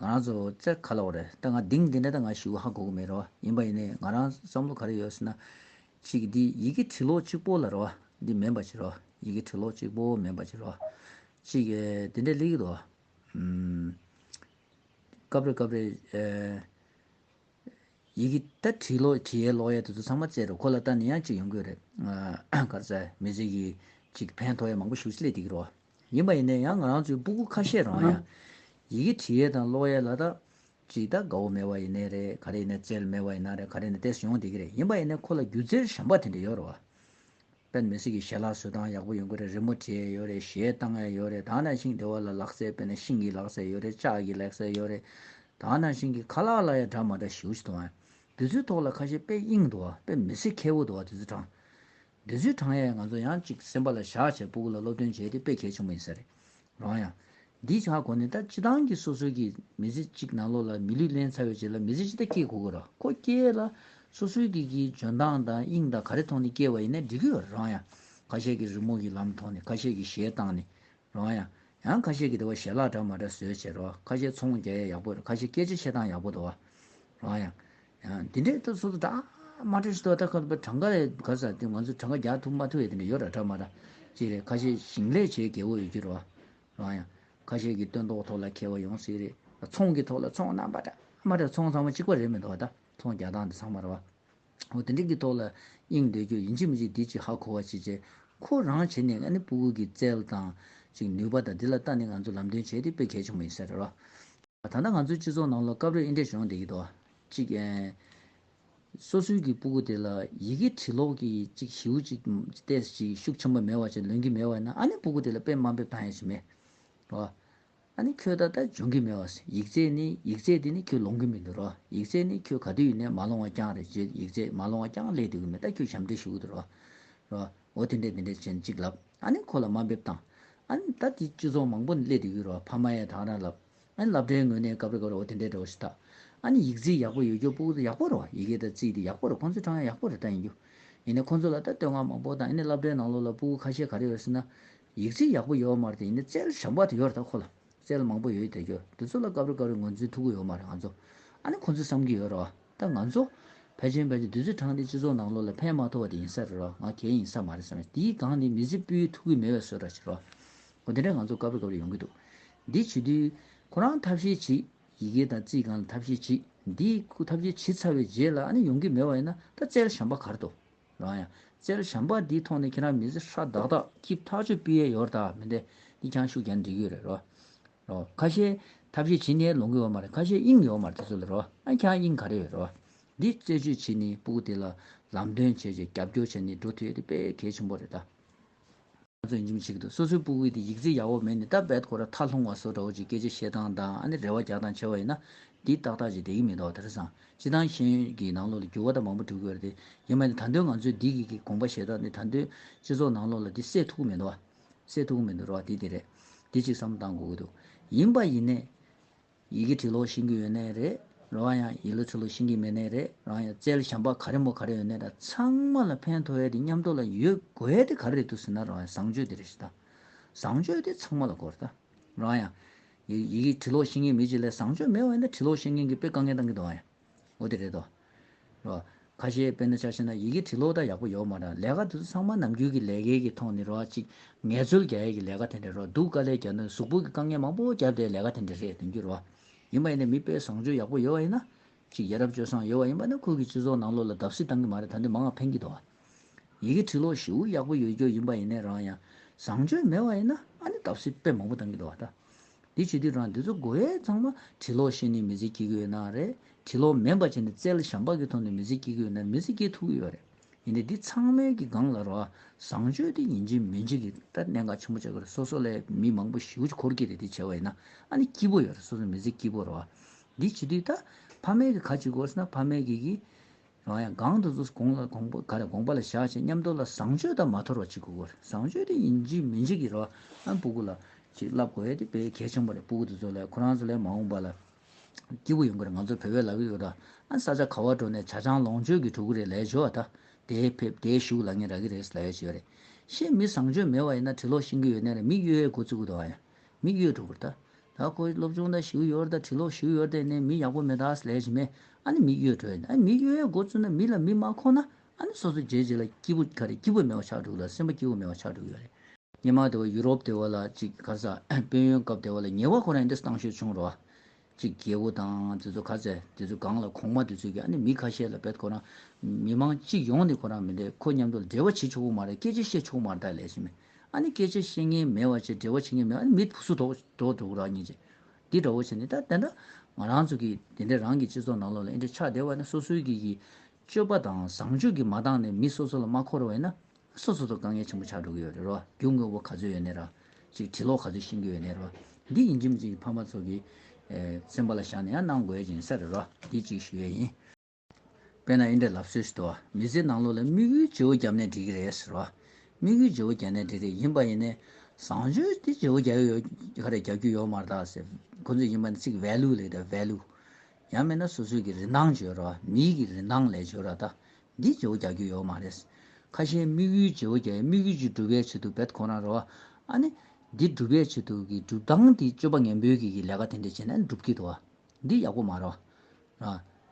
ང་རང་ཚོ་རྩེར་ཁ་ལོག་རེད་ད་ང་དེང་འདི་འདྲ་ད་ང་ཞི་བ་ཧ་གོ་གི་མེད་རེད་བ་ཡིན་པ་ཡིན་ནའི་ང་རང་བསམ་བློ་ག་རེ་ཡོད་ཟེར་ན། གཅིག་འདི་ཡི་གེ་བྲི་ལོག་གཅིག་པོ་ལ་རེད་བ་འདི་མེད་པ་ཅིག་རེད་བ་ཡི་གེ་བྲི་ལོག་གཅིག་པོ་མེད་པ་ཅིག་རེད་བ། གཅིག་འདི་འདྲ་ལེགས་འདུག་སྐབས་རེ་སྐབས་རེ། ཡི་གེ་ད་བྲིས་ལོག་བྲིས་ཡས་ལོག་ཡས་དེ་ཚོ་ཚང་མ་བཙལ་རེད་གོ་ལ་ད་ནི་ཡང་གཅིག་ཡོང་གི་རེད་ག་རེ་ཟེར་མི་ཚེ་གི་གཅིག་ཕན་ཐོག་ཡས་མང་པོ་ཞུ་སི་ལས་འདི་གི་རེད་བ། ཡིན་པ་ཡིན་ན་ཡང་ང་རང་ཚོའི་སྤུ་གུ་ཁ་ཤས་རང་ཡང་ཡི་གེ་བྲིས་ཡས་དང་ཀློག་ཡས་ལ་དག་ཅིག་དག་དགའ་བོ་མེད་བ་ཡིན་ནའི་རེད་ག་རེ་ཡིན་ན་རྩལ་མེད་བ་ཡིན་ན་རེད་ག་རེ་ཡིན་ན་ཏེ་སུ་ཡོང་བསྡད་ཀྱི་རེད་ཡིན་པ་ཡིན་ན་ཁོ་ལ་སྒྱུ་རྩལ་ཞན་པ་དེ་འདྲ་ཡོད་རེད་བ། དཔོན་མི་སྲིད་ཀྱི་ཞལ་ལག་བཟོས་སྟངས་ཡག་པོ་ཡོད་དགོས་རེད་རི་མོ་བྲིས་ཡས་ཡོད་རེད་གཞས་བཏང་ཡས་ཡོད་རེད་དང་ན་ཤིང་འདེ་བ་ལ་ལག་རྩལ་དཔེར་ན་ཤིང་གི་ལག་རྩལ་ཡོད་རེད་ལྕགས་ཀྱི་ལེག་རྩལ་ཡོད་རེད་དང་ན་ཤིང་གི་ཁ་ལག་ལ་ཡང་འདྲ་མ་འདྲ་ཞིའུ་ཞིག་འདུག་བ། དེ་ཚོའི་ཐོག་ལ་ཁ་ཤས་དཔེ་གཡེང་འདུག་བ་དཔེ་མི་སྲིད་མཁས་བོ་འདུག་བ་དེ་ཚོ་དྲང། འདི་ཚོའི་དྲང་ཡས་ང་ཚོ་ཡང་ཅིག་སེམས་པ་ལ་བཞག་བྱས་པུ་གུ་ལ་སློབ་སྟོན་བྱས་ཏེ་དཔེ་གལ་ཆེན་པོ་ཡིན་ས་རེད། རང་ཡང། འདིའི་ཆ་གོ་ནས་ད་སྤྱི་བཏང་གི་སོ་སོའི་གི་མི་ཚེ་གཅིག་ནང་ལོག་ལ་མི་ལུས་གླན་ཚ་བའི་རྗེས་ལ་མི་ཚེ་ཅི་ད་སྐྱེལ་གོ་གི་ར་ཁོ་སྐྱེལ་ལ། སོ་སོའི་གི་གི་འཇོན་ཐང་དང་དབྱིངས་དང་ག་རེ་ཐོག་ནས་སྐྱེལ་བ་ཡིན་ནའི་འགྲིག་གི་ཡོ་རང་ཡང། ཁ་ཤས་གི་རི་མོ་གི་ལམ་ཐོག་ནས་ཁ་ཤས་གི་ཞལ་བཏང་ནས། རང་ཡང། ཡང་ཁ་ཤས་གི་དེ་བ་ཞལ་ལག་འདྲ་མ་འདྲ་བཟོས་བྱས་ར་བ་ཁ་ཤས་ཚོང་བརྒྱ་ཡས་ཡག་པོ་ར་ཁ་ཤས་སྐད་ཆ་བཤད་སྟངས་ཡག་པོ་ད་བ། རང་ཡང། འདི་འདྲའི་སྟབས་སུ་གྲང་མ་འཁྲུལ་ཞིང་ཐོག་མཐའ་བར་གྲངས་ཀ་ག་ཟག་དེ་ང་ཚོས་གྲངས་ཀ་རྒྱག་ཐུབ་མ་ཐུབ་ཡོད་དེ་འདྲ་ཡོད་ར་གྲ་མ་གྲ་ཅིག་རེད་ཁ་ཤས་ཞིང་ལས་བྱེད་རྒས་པོ་ཡོད་རྒྱུ་རོ་རང་ཡང་ཁ་ཤས་ཀྱི་སྟོན་ཐོག་ཐོག་ལ་ཁེལ་བ་ཡོང་སྲིད་རེད་ཚོང་གི་ཐོག་ལ་ཚོང་རྣམ་པ་གྲ་མ་གྲ་ཚོང་ཚང་མ་གཅིག་པ་རེད་མི་འདུག་བ་ད་ཚོང་རྒྱག་སྟངས་དེ་ཚང་མ་ར་བ་འོ་དེ་འདྲ་གི་ཐོག་ལ་གཡེང་སྡོད་རྒྱུ་ཡིན་གཅིག་མི་གཅིག་འདི་གཅིག་ཧ་གོ་བ་གཅིག་བྱས་ཁོ་རང་བྱས་ནས་ཨ་ནེ་སྤུ་གུ་གི་རྩལ་དང་ཅིག་ནུས་པ་དང་འདི་ལ་ལྟ་ནས་ང་ཚོ་ལམ་སྟོན་བྱས་ཏེ་དཔེ་གལ་ཆེན་པོ་ཡིན་ས་རེད་རོ། ད་ལྟ་ང་ཚོའི་སྤྱི་ཚོགས་ནང་ལོ་སྐབས་རེར་ཨིན་ཏྲའི་གཞུང་འདི་ཡིད་དོ། གཅིག། སོ་སོའི་གི་སྤུ་གུ་དེ་ལ་ཡི་གེ་བྲིས་ལོག་གི་གཅིག་ཞིའུ་གཅིག་ཏས་གཅིག་ཤུགས་ཆེན་པོ་མེད་བ་ཅིག་ལོན་གི་མེད་བས་ན་ཨ་ནི་སྤུ་གུ་དེ་ལ་དཔེ་དམའ་འབེབས་དང་ཡ་ཞིག་མེད། རོ། ཨ་ནི་ཁྱོད་ད་ལྟ་སྦྱོང་གི་མེད་བས་ཡིག་རྩལ་ནི་ཡིག་རྩལ་དེ་ནི་ཁྱོད་ལོང་གི་མི་འདུག་རོ་ཡིག་རྩལ་ནི་ཁྱོད་ག་དུས་ཡིན་ནས་མ་ལོང་བ་རྐྱང་རེད་ཅེས་ཡིག་རྩལ་མ་ལོང་བ་རྐྱང་ལས་དུས་གི་མེད་ད་ཁྱོད་ཞབས་འདྲེན་ཞུ་གི་འདུག་རོ། རོ། འོ་དེ་འདྲས་དེ་འདྲས་ཅན་གཅིག་ལབ། ཨ་ནི་ཁོ་ལ་དམའ་འབེབས་བཏང། ཨ་ནི་ད་དེའི་སྤྱི་ཚོགས་མང་པོ་ནས་སླེབས་འདུག་ཡུལ་རོ་ཕ་མ་ཡས་དང་ར་ལབ། ཨ་ནི་ལབ་འདྲའི་ངོས་ནས་གབ་རེ་གབ་རེ་འོ་དེ་འདྲས་འདྲའོ་ཞེས་ཐག། ཨ་ནི་ཡིག་རྩིས་ཡག་པོ་ཡོད་རྒྱུ་པུ་གུ་དང་ཡག་པོ་རེད་བ་ཡི་གེ་དང་རྩིས་དེ་ཡག་པོ་རེད་ཁོང་ཚོའི་གྲངས་ཡང་ཡག་པོ་རེད་ད་ཡིན་རྒྱུ། ཡིན་ནའི་ཁོང་ཚོ་ལ་ད་བསྟོད་བསྔགས་མང་པོ་དང་ཡིན་ནའི་ལབ་འདྲའི་ནང་ལོགས་ལ་པུ་གུ་ཁ་ཤས་ག་རེ་ཡོད་ཟེར་ན། ཡིག་རྩིས་ཡག་པོ་ཡོད་བ་མ་རེད་དེ་ཡིན་ནའི་རྩལ་ཞབས་འབག་དེ་ཡོད་རེད་ད་ཁོ་ལ། རྩལ་མང་པོ་ཡོད་ཡོད་དེ་རྒྱུ། དེ་ཚོ་ལ་གབ་རེ་གབ་རེ་ངོས་འཛིན་ཐུག་གི་ཡོད་མ་རེད་ང་ཚོ། ཨ་ནི་ཁོང་ཚོས་བསམ་གི་ཡོད་རེད་བ། ད་ང་ཚོ། བལ་ཆེན་བལ་ཆེན་བདུད་རྩི་འཕྲང་འདི་སྤྱི་ཚོགས་ནང་ལོགས་ལ་ཕན་མ་ཐོགས་པ་དེ་ཡིན་ས་རེད་རོ་ང་གལ་ཡིན་ས་མ་རེད་བསམ་ཡ་དེའི་སྒང་ནི་མི་ཚེ་སྤུའི་ཐུགས་ཀྱི་མེ་བའི་སོལ་ར་ཞིག་རོ། འོ་དེ་འདྲ་ང་ཚོ་དཀའ་བས་དཀའ་བས་ཡོང་གི་འདུག་འདི་བྱེད་དུས། ཁོ་རང་ཐབས་ཤེས་བྱེད། ཡི་གེ་དང་རྩིས་སྒང་ལ་ཐབས་ཤེས་བྱེད། འདི་ཁོ་ཐབས་ཤེས་བྱེད་ཚར་བའི་རྗེས་ལ་ཨ་ནི་ཡོང་གི་མེད་བ་ཡིན་ན་ད་རྩལ་ཞམ་པ་གར་འདུག་རང་ཡང། རྩལ་ཞམ་པ་འདིའི་ཐོག་ནས་ཁྱེད་རང་མི་ཚེ་ཧྲ་དག་དག་སྐྱིབས་ཐག་ཆོད་སྤུས་ཡལ་ཡོར་དག་མི་འདེད་འདི་ཁྱང་ཤུག་གྱང་འགྲིག་ཡོད་རེད་རོ། རོ། ཁ་ཤས། ཐབས་ཤེས་བྱེད་ནས་ལོངས་སྐུ་ཡོང་མ་རེད་ཁ་ཤས་དབྱིངས་ཡོང་མ་རེད་དེ་ཚོ་ལས་རོ། ཨ་ཁྱང་དབྱིངས་ག་རེ་ཡོད་རོ། འདི་རྩད་གཅོད་བྱེད་ནི་སྤུ་གུ་དེ་ལ་ལམ་སྟོན་བྱས་རྗེས་རྒྱབ་སྐྱོར་བྱས་ནི་འགྲོ་དེ་དེ་དཔེ་གལ་ཆེན་པོ་རེད་ད། ང་ཚོས་ཡིན་གྱི་བྱེད་ཀྱི་འདུག་སོ་སོའི་སྤུ་གུའི་དེ་ཡིག་རྩིས་ཡག་པོ་མེད་ནི་ད་བད་ཁོ་ར་ཐག་ལྷུང་བ་སོགས་འདྲ་བོ་ཅིག་སྐད་ཆ་བཤད་སྟངས་དང་ཨ་ནི་རེ་བ་རྒྱག་སྟངས་ཆེ་བ་ཡིན་ན། འདི་ཏག་ཏག་ཅིག་བསྡད་ཀྱི་མི་འདུག་དེ་རེད་བསམ། སྤྱི་དང་ཤེས་ཡོན་གྱི་ནང་ལོགས་ལ་འགྱུར་བ་ད་མང་པོ་འགྲོ་གི་ཡོད་རེད་དེ། ཡིན་མ་ཡིན་ད་དོན་ང་ཚོས་འདི་གི་གི་དགོངས་པ་བཞེས་སྟངས་འདི་ད་དོན་སྤྱི་ཚོགས་ནང་ལོགས་ལ་འདི་སེལ་ཐུག་གི་མི་འདུག། སེ་ཐུག་མི་འདུག་རོགས་འདི་དེ་རེད། འདི་ཅིག་བསམ་གཏང་དགོས་ཀྱི་འདུག་ཡིན་པ་ཡིན་ནས། ཡི་གེ་བྲིས་ལོག་ཤེས་ཀྱི་ཡོད་ནའི་རེད། རང་ཡང་ཡིག་ལོ་ཚུགས་ལོག་ཤེས་ཀྱི་མེད་ནའི་རེད། རང་ཡང་རྩལ་ཞམ་པ་ག་རེ་མོ་ག་རེ་ཡོད་ནའི་རེད། ཚང་མ་ལ་ཕན་མཐོ་བའི་དེ་མཉམ་འགྲོ་ལ་ཡོད་དགོས་དེ་ག་རེ་རེད་འདུག་ཟེར་ན་རང་ཡང་བཟང་སྤྱོད་དེ་རེད་ཞུ་ད། བཟང་སྤྱོད་དེ་ཚང་མ་ལ་དགོས་རེད་ད། རང་ཡང། ཡིག་གེ་བྲིས་ལོག་ཤེས་མཁན་མི་ཅིག་ལས་བཟང་སྤྱོད་མེད་བ་ཡིན་ན་བྲིས་ལོག་ཤེས་མཁན་གྱི་དཔེ་དཀའ་ངལ་གཏང་གི་འདུག་ཨང་ཡང། འོ་དེ་རེད་དོ། རོ། ཁ་ཤས་དཔེར་ན་ཆ་ཤས་ན་ཡི་གེ་བྲི་ལོག་ད་ཡག་པོ་ཡོག་མ་རང་ལས་ཀ་དེ་ཚོ་ཚང་མ་ནམ་རྒྱུན་གི་ལས་ཀའི་གི་ཐོག་ནི་རོ་ཅིག་ངལ་རྩོལ་རྒྱ་ཡས་གི་ལས་ཀ་དེ་འདྲ་རོ་འདུག་དཀའ་ལས་རྒྱ་ནི་གཟུགས་པོ་གི་དཀའ་ངལ་མང་པོ་རྒྱབ་དེ་ལས་ཀ་དེ་འདྲ་རེད་དོན་གྱི་རོ། ཡིན་པ་ཡིན་ན་མི་དཔེ་བཟང་སྤྱོད་ཡག་པོ་ཡོད་བ་ཡིན་ན། ཅིག་ཡ་རབས་སྤྱོད་བཟང་ཡོད་བ་ཡིན་པ་ན་ཁུལ་གྱི་སྤྱི་ཚོགས་ནང་ལོག་ལ་བརྡབ་གསིག་བཏང་གི་མ་རེད་ད་འདི་མང་ང་ཕན་གྱི་དོ། ཡི་གེ་བྲི་ཀློག་ཞེའུ་ཡག་པོ་ཡོད་རྒྱུ་ཡིན་པ་ཡིན་ནས་རང་ཡང་བཟང་སྤྱོད་མེད་པ་ཡིན་ན་ཨ་ནི་སྟབས་སེ་དཔེ་མང་པོ་བཏང་གི་འདུག་བ་ད། འདི་བྱེད་དུས་རང་འདི་ཚོ་གོ་ཡས་ཚང་མ་བྲི་ཀློག་ཤེས་ནི་མི་ཚེ་སྐྱེལ་གི་ཡོད་ན་རེད་བྲི་ཀློག་མེད་པ་བྱས་ནི་རྩལ་ཞམ་པག་གི་ཐོག་ནས་མི་ཚེ་སྐྱེལ་གི་ཡོད་ན་མི་ཚེ་སྐྱེལ་ཐུབ་གི་ཡོད་རེད་ཡིན་ནས་འདི་ཚང་མལ་གི་སྒང་ལ་རོ་ཨ་བཟང་སྤྱོད་དེ་ཡིན་གྱི་མིན་གྱི་གི་ད་གནད་འགག་ཆེན་པོ་ཆགས་གི་རེད་སོ་སོ་ལས་མི་མང་པོ་ཞེའུ་ཅི་འཁོར་གི་རེད་འདི་བྱས་པ་ཡིན་ན་ཨ་ནི་སྐྱིད་པོ་ཡོད་རེད་སོ་སོ་མི་ཚེ་སྐྱིད་པོ་རོ་ཨ་འདི་བྱེད་དུས་ད་ཕ་མེས་གི་ག་ཅིག་གོ་ཟེར་ན་ཕ་མེས་གི་གི་རང་ཡང་གང་དུ་ཚུགས་གོང་ལ་གོང་པོ་ག་རེ་དགོངས་པ་ལ་བཞག་ཅེས་ཉམས་རྟོགས་ལ་བཟང་སྤྱོད་དང་མ་འཐོར་བ་ཅིག་དགོས་དགོས་རེད་བཟང་སྤྱོད་དེ་ཡིན་འཇིག་མི་འཇིག་གི་རེ་བ་ཨ་སྤུ་གུ་ལ་ཅིག་བསླབ་དགོས་ཡས་དེ་དཔེ་གལ་ཆེན་པོ་རེད་སྤུ་གུ་དེ་ཚོ་ལས་ཁོ་རང་ཚོ་ལས་མ་འོངས་པ་ལ་སྐྱིད་པོ་ཡོང་གི་རེད་ང་ཚོ་བོད་པའི་ལག་གི་ཡོ་ད་ཨ་ས་ཆ་ག་བ་འགྲོ་ནས་བྱ་ཆང་ལོངས་སྤྱོད་ཀྱི་གྲུ་གུ་རེད་ལས་བྱོ་བ་ད་དེའི་ཕེབས་དེའི་བཞུགས་ལ་ངས་རག་གི་རེད་ཟེར་ལ་ཡོད་ཅིག་ཡོད་རེད་ཤེས་མི་བཟང་སྤྱོད་མེད་བ་ཡིན་ན་གྲི་ལོག་ཤིང་གི་ཡོད་ནས་རེད་མིག་གཡོའི་མགོ་བཙུགས་གི་འདུག་ཨ་ཡ་མིག་གཡོའི་གྲུ་གུར་ད་ད་ཁོའི་སློབ་སྦྱོང་དང་ཞུ་ཡོར་དང་བྲིས་ལོག་ཞུ་ཡོར་དེ་ནི་མི་ཡག་པོ་མེད་ཐག་ལས་ཀྱི་མེད་ཨ་ནི་མི་གཡོ་དྲོད་ཨ་མི་གཡོ་ཡའི་འགོ་བཙུགས་ན་མི་ལ་མི་མ་ཁོག་ན་ཨ་ནི་སོ་སོ་རྗེས་རྗེས་ལ་སྐྱིད་པོ་ཁ་རེ་སྐྱིད་པོ་མེད་བ་ཆགས་འགྲོ་གི་ལ་སེམས་པ་སྐྱིད་པོ་མེད་བ་ཆགས་འགྲོ་གི་ཡོད་རེད་སྙེ་མ་དེ་བ་ཡུ་རོབ་དེ་བ་ལ་ཅིག་གར་ས་དཔོན་ཡོན་སྐབས་དེ་བ་ལ་ཉེ་བ་ཁོ་རང་འདིར་བཏང་ཤོས་བྱུང་རོགས་ཨ་ཅིག་རྒྱལ་བོ་དང་དེ་ཚོ་ག་ཚད་དེ་ཚོ་སྒང་ལ་གོང་མ་དེ་ཚོས་ཀྱི་ཨ་ནི་མི་ཁ་ཤས་ལ་བེད་ཁོ་རང་མི་མང་སྤྱི་ཡོངས་ནི་ཁོ་རང་མི་འདྲེ་ཁོ་མཉམ་དུ་འབྲེལ་བ་བྱེད་ཆོག་པོ་མ་རེད་སྐད་ཆ་བཤད་ཆོག་པོ་མ་རེད་ཐག་ལས་ཀྱི་མེད་ཨཱ་ནི་སྐྱེ་བྱེད་བཤེས་གཉེན་མེད་བ་ཅེས་འབྲེལ་བ་བྱེད་ངེས་མེད་ཨཱ་ནི་མི་སུ་དོགས་དོགས་དོགས་ར་ཉེས་བྱེད། འདི་འདྲ་བོ་བྱེད་ནི་ད་དེ་འདྲ། ང་རང་ཚོ་གིས་དེ་འདྲའི་རང་གི་སྤྱི་ཚོགས་ནང་ལོགས་ལ་ཨེ་འདྲ་ཆགས་བསྡད་བ་ནི་སོ་སོའི་གིས་ཀྱི་སྤྱོད་པ་དང་བཟང་སྤྱོད་ཀྱིས་མ་འདང་ནས་མི་སོ་སོ་ལ་མ་འཁོར་བ་ཡིན་ན། སོ་སོ་ཚོ་དཀའ་ངལ་ཆེན་པོ་ཆགས་འགྲོ་གི་ཡོད་རེད་རོ། རྒྱུ་དངོས་པོ་ག་ཚོད་ཡོད་ནས་ར། ཅིག་དྲི་ལོག་ག་ཚོད་ཤེས་ཀྱི་ཡོད་ནས་ར། འདི་ཡིན་ཁྱིམ་གཅིག་གི་ཕ་མ་ཚོ་གིས། སེམས་པ་ལ་བཞག་ནས་ཡང་གནང་དགོས་ཀྱི་ཡིན་ས་རེད་རོ། འདི་གཅིག་ཞུ་ཡས་ཡིན། དཔེར་ན་ཨིནྡྲའི་ལབ་སྲོལ་ཞིག་ཏུ་བ་མི་ཚེའི་ནང་ལོ་ལ་དམིགས་ཡུལ་བརྗེ་བོ་བརྒྱབ་ནས་འགྲིག་གི་རེད་ཟེར། བ་དམིགས་ཡུལ་བརྗེ་བོ་བརྒྱབ་ནས་འགྲིག་རེད་ཡིན་པ་ཡིན་ནའི། བཟང་སྤྱོད་དེ་བརྗེ་བོ་བརྒྱབ་ཡོད་ག་རེད་བརྒྱབ་རྒྱུ་ཡོད་མ་རེད་ད་ཟེར། ཁོ་ཚོས་ཡིན་པ་ནི་ཚིག་གི value ལས་ད value། ཡང་མིན་ན་སོ་སོའི་གི་རིན་ཐང་བརྗོད་ར་བ་མིའི་གི་རིན་ཐང་ལས་བརྗོད་ར་ད། འདི་བརྗེ་བོ་བརྒྱབ་རྒྱུ་ཡོད་མ་རེད། ཁ་ཞེ་དམིགས་ཡུལ་བརྗེ་བོ་བརྒྱབ་ཡོད་དམིགས་ཡུལ་གྱི་སྒྲུབ་པའི་ཆེད་དུ་བེད་ཁོ་རང་རེད་བ། ཨ་ནི། འདི་སྒྲུབ་པའི་ཆེད་དུ་གི་སྒྲུབ་སྟངས་དེ་སྤྱོད་པ་ངན་པོའི་གི་གི་ལས་ཀ་དེ་འདྲས་བྱས་ནས་འགྲུབ་ཀི་འདུག་བ། འདི་ཡག་པོ་མ་རེད།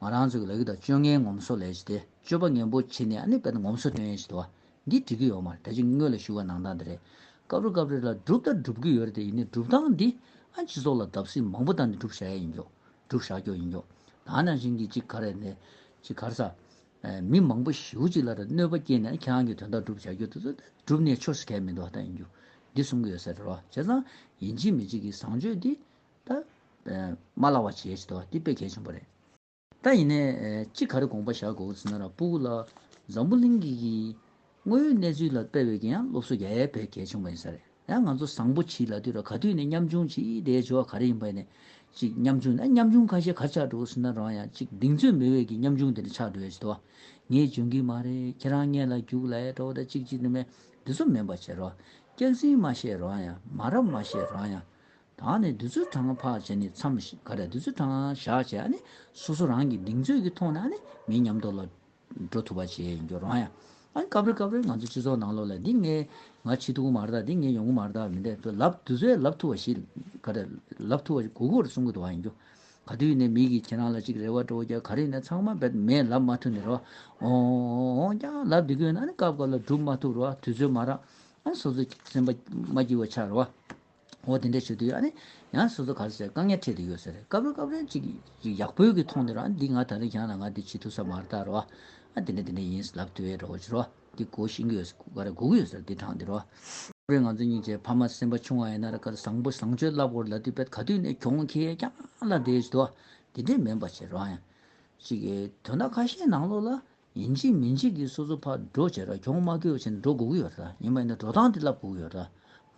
ང་རང་ཚོ་གི་ལག་གི་དང་སྤྱོད་ངན་ངོམ་སོ་ལས་ཀྱི་དེ་སྤྱོད་པ་ངན་པོ་བྱེད་ནས་ཨ་ནི་པད་ངོམ་སོ་སྟོན་ཡས་ཀྱི་དོ། འདི་འགྲིག་གི་ཡོད་མ་རེད་ད་ཅིག་དངོས་ལ་ཞུ་བ་ནང་དང་དེ་རེད། སྐབས་རེ་སྐབས་རེ་ལ་སྒྲུབ་ད་སྒྲུབ་གི་ཡོད་རེད་དེ་ཡིན་ནས་སྒྲུབ་སྟངས་འདི་ཨ་སྤྱི་ཚོགས་ལ་བརྡབ་གསིག་མང་པོ་བཏང་ནས་སྒྲུབ་བཞག་ཡས་ཡིན་ཀྱོ། སྒྲུབ་བཞག་ཀྱོ་ཡིན་ཀྱོ། ད་ནང་བཞིན་གྱི་ཅིག་ག་རེ་ནས་ཅིག་གར་ས། མི་མང་པོ་ཞིའུ་ཅིག་ལ་རེ་གནོད་པ་བསྐྱེད་ནས་ཁྱེད་རང་གི་དོན་དག་སྒྲུབ་བཞག་ཀྱོ་དེ་ཚོ་སྒྲུབ་ནས་ཆོས་སུ་གས་མི་འདུག་ཧ་ད་ཡིན་ཀྱོ། འདི་གསུང་གི་ཡོད་ས་རེད་རོ་བྱས་ཙང་ཡིན་གཅིག་མི་གཅིག་གི་བཟང་སྤྱོད་འདི། ད། མ་ལགས་བ་བྱས་ཏོ་འདི་དཔེ་གལ་ཆེན་པོ་རེད། ད་ཡིན་ནས་ཅི་ག་རེ་དགོངས་པ་བཞག་དགོས་ཟེར་ན་ར་སྤུ་གུ་ལ། འཛམ་བུ་གླིང་གི་གི། དངོས་ཡོད་གནས་ཚུལ་ལ་དཔེ་འོས་ཀྱི་ཡང་སློབ་གསོ་རྒྱ་ཡལ་བས་གལ་ཆེན་པོ་ཡིན་ས་རེད་ཡང་ང་ཚོ་བཟང་པོ་བྱིས་ལ་དུས་ར་ག་དུས་ནས་ཉམ་ཆུང་བྱིས་དེའི་སྦྱོར་བ་ག་རེ་ཡིན་པ་ཡིན་ནས་ཅིག་ཉམ་ཆུང་ན་ཉམ་ཆུང་ཁ་ཤས་གར་ཆགས་འགྲོ་ཟེར་ན་རང་ཡང་ཅིག་གདིང་ཚོད་མི་འོས་ཀྱི་ཉམ་ཆུང་དེ་འདྲ་ཆགས་འགྲོ་ཡ་བྱེད་ཏོ། ངས་འཇོན་གི་མ་རེད་ཁྱེད་རང་ངེད་ལ་རྒྱུགས་ལ་ཡས་འགྲོ་བ་ད་ཅིག་ཅིག་ནི་མེད་འདི་ཚོ་མིན་པ་བྱེད་རོགས་སྐྱག་ཟིང་མ་བཤད་རང་ཡང་མ་རབས་མ་བཤད་རང་ཡང། དང་ནི་བདུད་རྩི་གྲངས་འཕགས་བྱས་ནས་མཚམས་ག་རེ་བདུད་རྩི་གྲངས་བཞག་བྱས་ནས་སོ་སོ་རང་གི་གདིང་ཚོད་ཀྱི་ཐོག་ནས་མི་ཉམས་དོ་ལ་འགྲོ་ཐུབ་པ་བྱེད་འགྱུར་རོ། ཡང་སྐབས་རེ་སྐབས་རེ་ང་ཚོའི་སྤྱི་ཚོགས་ནང་ལོགས་ལ་འདི་ངས་ང་ཕྱི་ཐུག་མ་རེད་ད་འདི་ངས་ཡོང་གི་མ་རེད་ད་མི་འདེད་དོ་ལབ་བདུད་རྩི་ལབ་ཐུབ་པ་ཞིག་ག་རེ་ལབ་ཐུབ་པ་གུ་གུ་བར་གསུང་གི་དོགས་ཡིན་རྒྱུ། ག་དུས་ནས་མིག་གིས་ཁྱེད་རང་ལ་ཅིག་རེ་བ་སྤྲོ་རྒྱ་ག་རེ་ནས་ཚང་མ་བེད་མེད་ལབ་མ་ཐུབ་ནས་རེ་བ་འོང་ཀྱང་ལབ་འདི་གུས་ན་ནི་སྐབས་སྐབས་ལ་སྒྲུབ་མ་ཐུབ་རེ་བ་དུས་ཚོད་མ་རག་ཨ་ནི་སོ་སོའི་སེམས་པ་མ་སྐྱིད་བ་ཆགས་རེ་བ། འོ་དེ་འདྲས་བྱོས་དུས་ཡག་ནི། ཡང་སོ་སོ་ག་ལ་སྲིད་དཀའ་ངལ་འཕྲད་དུ་ཡོད་ཟེར། སྐབས་རེ་སྐབས་རེ་ཅིག་ཅིག་ཡག་པོའི་གི་མཐོང་དུས་རང་འདི་ང་ད་རིང་བཞག་ན་ང་འདི་བྱེད་ཐུབ་ས་མ་རྟག་རོ། ཨ་དེ་འདྲས་དེ་འདྲས་ཡིན་ཟེར་ལབ་དུས་ཨེ་རོ་ཅི་རོ། འདི་སྒོ་ཤིང་གི་ཡོད་ཟེར་ག་རེ་སྒོ་གི་ཡོད་ཟེར་འདི་དྲང་འདི་རོ། སྐབས་རེ་ང་ཚོ་གཉིས་ཀྱི་ཕ་མ་སེམས་པ་ཆུང་བ་ཡིན་ན་ར་ག་ར་བཟང་པོ་བཟང་སྤྱོད་རླབས་འཁོར་ལ་དུས་དཔེ་ག་དུས་ནས་གྱོང་ཁེ་རྐྱང་ལ་འདས་ཟེར་དུ་ཨ་དེ་འདྲས་མིན་པ་བྱེད་རང་ཡང། ཅིག་དོན་དག་ཁ་ཤས་ནང་ལོགས་ལ་ཡིན་གཅིག་མིན་གཅིག་གིས་སོ་སོ་ཕར་འགྲོ་བྱས་ར་གྱོང་མ་གོས་ཕྱིར་འགྲོ་དགོས་ཀྱི་ཡོད་ར་ཡིན་པ་ཡིན་ན་འགྲོ་སྟངས་དེ་ལབ་དགོས་ཀྱི་ཡོད་ར།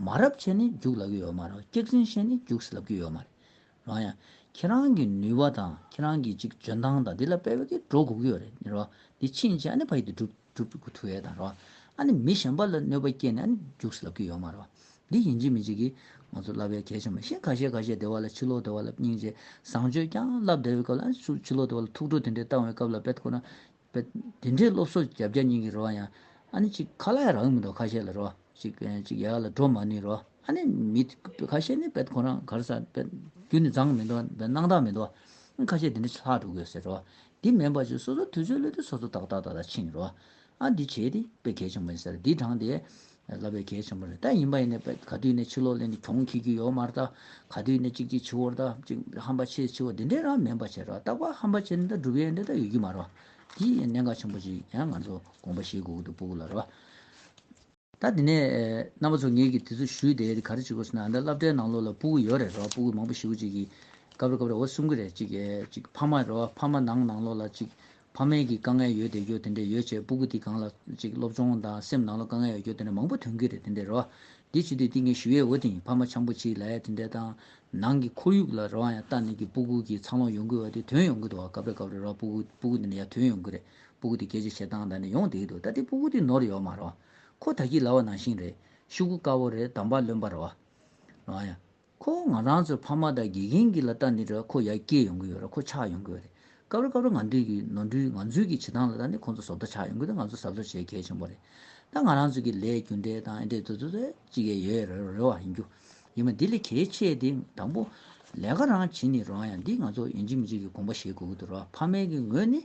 མ་རབས་ཆེ་ནི་རྒྱུགས་ལབ་ཀྱི་ཡོད་མ་ར་སྐྱག་ཟིང་ཤས་ནི་རྒྱུགས་ལབ་ཀྱི་ཡོད་མ་ར། ཡང་ཡང། ཁྱེད་རང་གི་ནུས་པ་དང་ཁྱེད་རང་གི་ཅིག་འཇོན་ཐང་དང་དེ་ལ་དཔེ་བས་ཀྱིས་འགྲོ་དགོས་ཀྱི་ཡོད་རེད་ར་དེ་ཕྱིན་ཆད་ཨ་ནི་ཕ་ཡི་དེ་སྒྲུབ་སྒྲུབ་ཐུ་ཡས་དང་ར་ཨ་ནི་མི་གཞན་པ་ལ་གནོད་པ་སྐྱེལ་ནས་ཨ་ནི་རྒྱུགས་ལབ་ཀྱི་ཡོད་མ་ར། འདི་ཡིན་གཅིག་མིན་གཅིག་གིས་ང་ཚོར་བསླབ་པའི་གལ་ཆེན་པོ་ཤིང་ཁ་ཤས་ཁ་ཤས་བདེ་བ་ལ་ཕྱི་ལོག་བདེ་བ་ལ་སྙིང་རྗེ་བཟང་སྤྱོད་རྐྱང་བསླབ་བདེ་བའི་སྐབས་ལ་ཕྱི་ཕྱི་ལོག་བདེ་བ་ལ་ཐུགས་ཁྲོ་དེ་འདྲའི་བཏང་བའི་སྐབས་ལ་དཔེ་ཁོ་ན་དཔེ། དེ་འདྲའི་སློབ་གསོ་རྒྱབ་རྒྱབ་སྙིང་གི་རེ་བ་ཡང་ཨ་ནི་གཅིག་ཁ་ལ་ཡང་རག་མི་འདུག་ཁ་ཤས་ལ་རེ་བ་གཅིག་གཅིག་ཡ་ག་ལ་འགྲོ་མ་ནུས་རེ་བ་ཨ་ནི་མི་ཁ་ཤས་ནི་དཔེ་ཁོ་རང་གར་ས་དཔེ་རྒྱུ་ནི་བརྫངས་མི་འདུག་དཔེ་སྣང་དག་མི་འདུག་ཁ་ཤས་དེ་འདྲ་ཆ་ལྷག་འགྲོ་དགོས་ཟེར་རེ་བ་འདི་མེད་པར་ཆུ་སོ་སོ་དུས་ཚོད་བློ་དུས་སོ་སོ་ཏག་ཏག་ཏག་ཏག་ཕྱིན་རེ་བ་ཨ་འདི་བྱས་ཏེ་དཔེ་གལ་ཆེན་པོ་ཡིན་ཟེར་འདི་དྲངས་ཏེ། ལ་དཔེ་གལ་ཆེན་པོ་རེད་ད་ཡིན་པ་ཡིན་ནས་ག་དུས་ནས་ཕྱི་ལོག་ལེན་དེ་གྱོང་གི་རྒྱུ་ཡོད་མ་རེད་ད་ག་དུས་ནས་གཅིག་གཅིག་ཕྱི་བོར་ད་གཅིག་ཧམ་པ་ཆེ་ཆེ་བོ་དེ་འདྲས་རང་མིན་པ་བྱས་རོགས་རྟག་པ་ཧམ་པ་བྱས་ནས་ད་སྒྲུབ་ཡས་འདྲས་ད་ཡོད་རྒྱུ་མ་རེད་པ་དེ་ཡིན་གནད་འགག་ཆེན་པོ་ཅིག་ཡང་ང་ཚོ་དགོངས་པ་བཞེས་དགོས་ཀྱི་འདུག་སྤོ་བོ་ལ་རེད་པ། ད་དེ་ནས། རྣམ་པ་ཚོ་ངེད་ཀྱིས་དེ་ཚོ་ཞུས་དེ་དེ་ག་རེ་བྱེད་དགོས་ཟེར་ན་འདི་སླབ་གྲྭའི་ནང་ལོགས་ལ་སྤུ་གུ་ཡོད་རེད་རོ་སྤུ་གུ་མང་པོ་ཞིག་གོ་གཅིག་གིས་གབ་རེ་གབ་རེ་འོ་གསུམ་གི་རེད་གཅིག་གིས་གཅིག་ཕ་མ་རེད་རོ་ཕ་མ་ནང་ནང་ལོགས་ལ་གཅིག་ཕ་མའི་གིས་དཀའ་ངལ་ཡོད་དེ་ཡོད་དེ་འདྲས་ཡོད་བྱས་སྤུ་གུ་དེ་གང་ལ་གཅིག་སློབ་སྦྱོང་དང་སེམས་ནང་ལོགས་དཀའ་ངལ་ཡོད་རྒྱུ་དེ་འདྲས་མང་པོ་ཐོན་གི་རེད་དེ་འདྲས་རོ་འདི་བྱེད་དུས་དེ་ངས་ཞུས་ཡས་འོ་དེ་ཕ་མ་ཆང་པོ་གཅིག་ལ་ཡས་དེ་འདྲས་དང་ནང་གི་ཁོར་ཡུག་ལ་རོ་ཡ་ལྟ་ནས་གིས་སྤུ་གུ་གིས་ཚང་ལོགས་ཡོང་གི་འོ་དེ་དོན་ཡོང་གི་འདུག་བ་གབ་རེ་གབ་རེ་རོ་སྤུ་གུ་སྤུ་གུ་དེ་འདྲས་ཡ་དོན་ཡོང་གི་རེད་སྤུ་གུ་དེ་སྐད་ཆ་བྱེད་སྟངས་དང་ནི་ཡོང་བསྡད་ཀྱི་འདུག་ད་ལྟའི་སྤུ་གུ་དེ་ནོར་ཡོད་མ་རེད། ཁོ་ད་ཁྱི་ལ་བ་ནང་བཞིན་རེད། ཤུ་གུ་དཀར་བོ་རེད་དམ་པ་རློན་པ་རེད། རང་ཡ། ཁོ་བོ་ང་རང་ཚོའི་ཕ་མ་དང་དགེ་རྒན་གྱི་ལ་ལྟ་ནི་རེད་ཁོ་ཡར་སྐྱེད་ཡོང་གི་ཡོད་རེད་ཁོ་ཆགས་ཡོང་གི་ཡོད་རེད། སྐབས་རེ་སྐབས་རེ་ང་འདུས་ཀྱི་ནོར་འཁྲུལ་ང་ཚོའི་གྱི་བྱེད་སྟངས་ལ་ལྟ་ནི་ཁོང་ཚོ་བཟོ་ལྟ་ཆགས་ཡོང་གི་འདུག་ང་ཚོ་གཟབ་གཟབ་བྱེད་གལ་ཆེན་པོ་རེད། ད་ང་རང་ཚོའི་གྱི་ལས་རྒྱུ་འབྲས་དང་ཨེ་འབྲས་དུ་དུ་དུ་ཅི་གས་ཡོད་རེད་རེད་བ་ཡིན་རྒྱུ། ཡིན་མ་འདི་ལས་གལ་ཆེ་དེ་དང་པོ། ལས་ཀ་རང་བྱེད་ནི་རང་ཡ་འདི་ང་ཚོ་ཡིན་གཅིག་མི་གཅིག་གི་དགོངས་པ་བཞེས་དགོས་ཀྱི་འདུག་རེད་བ་ཕ་མའི་གྱི་ངོས་ནས་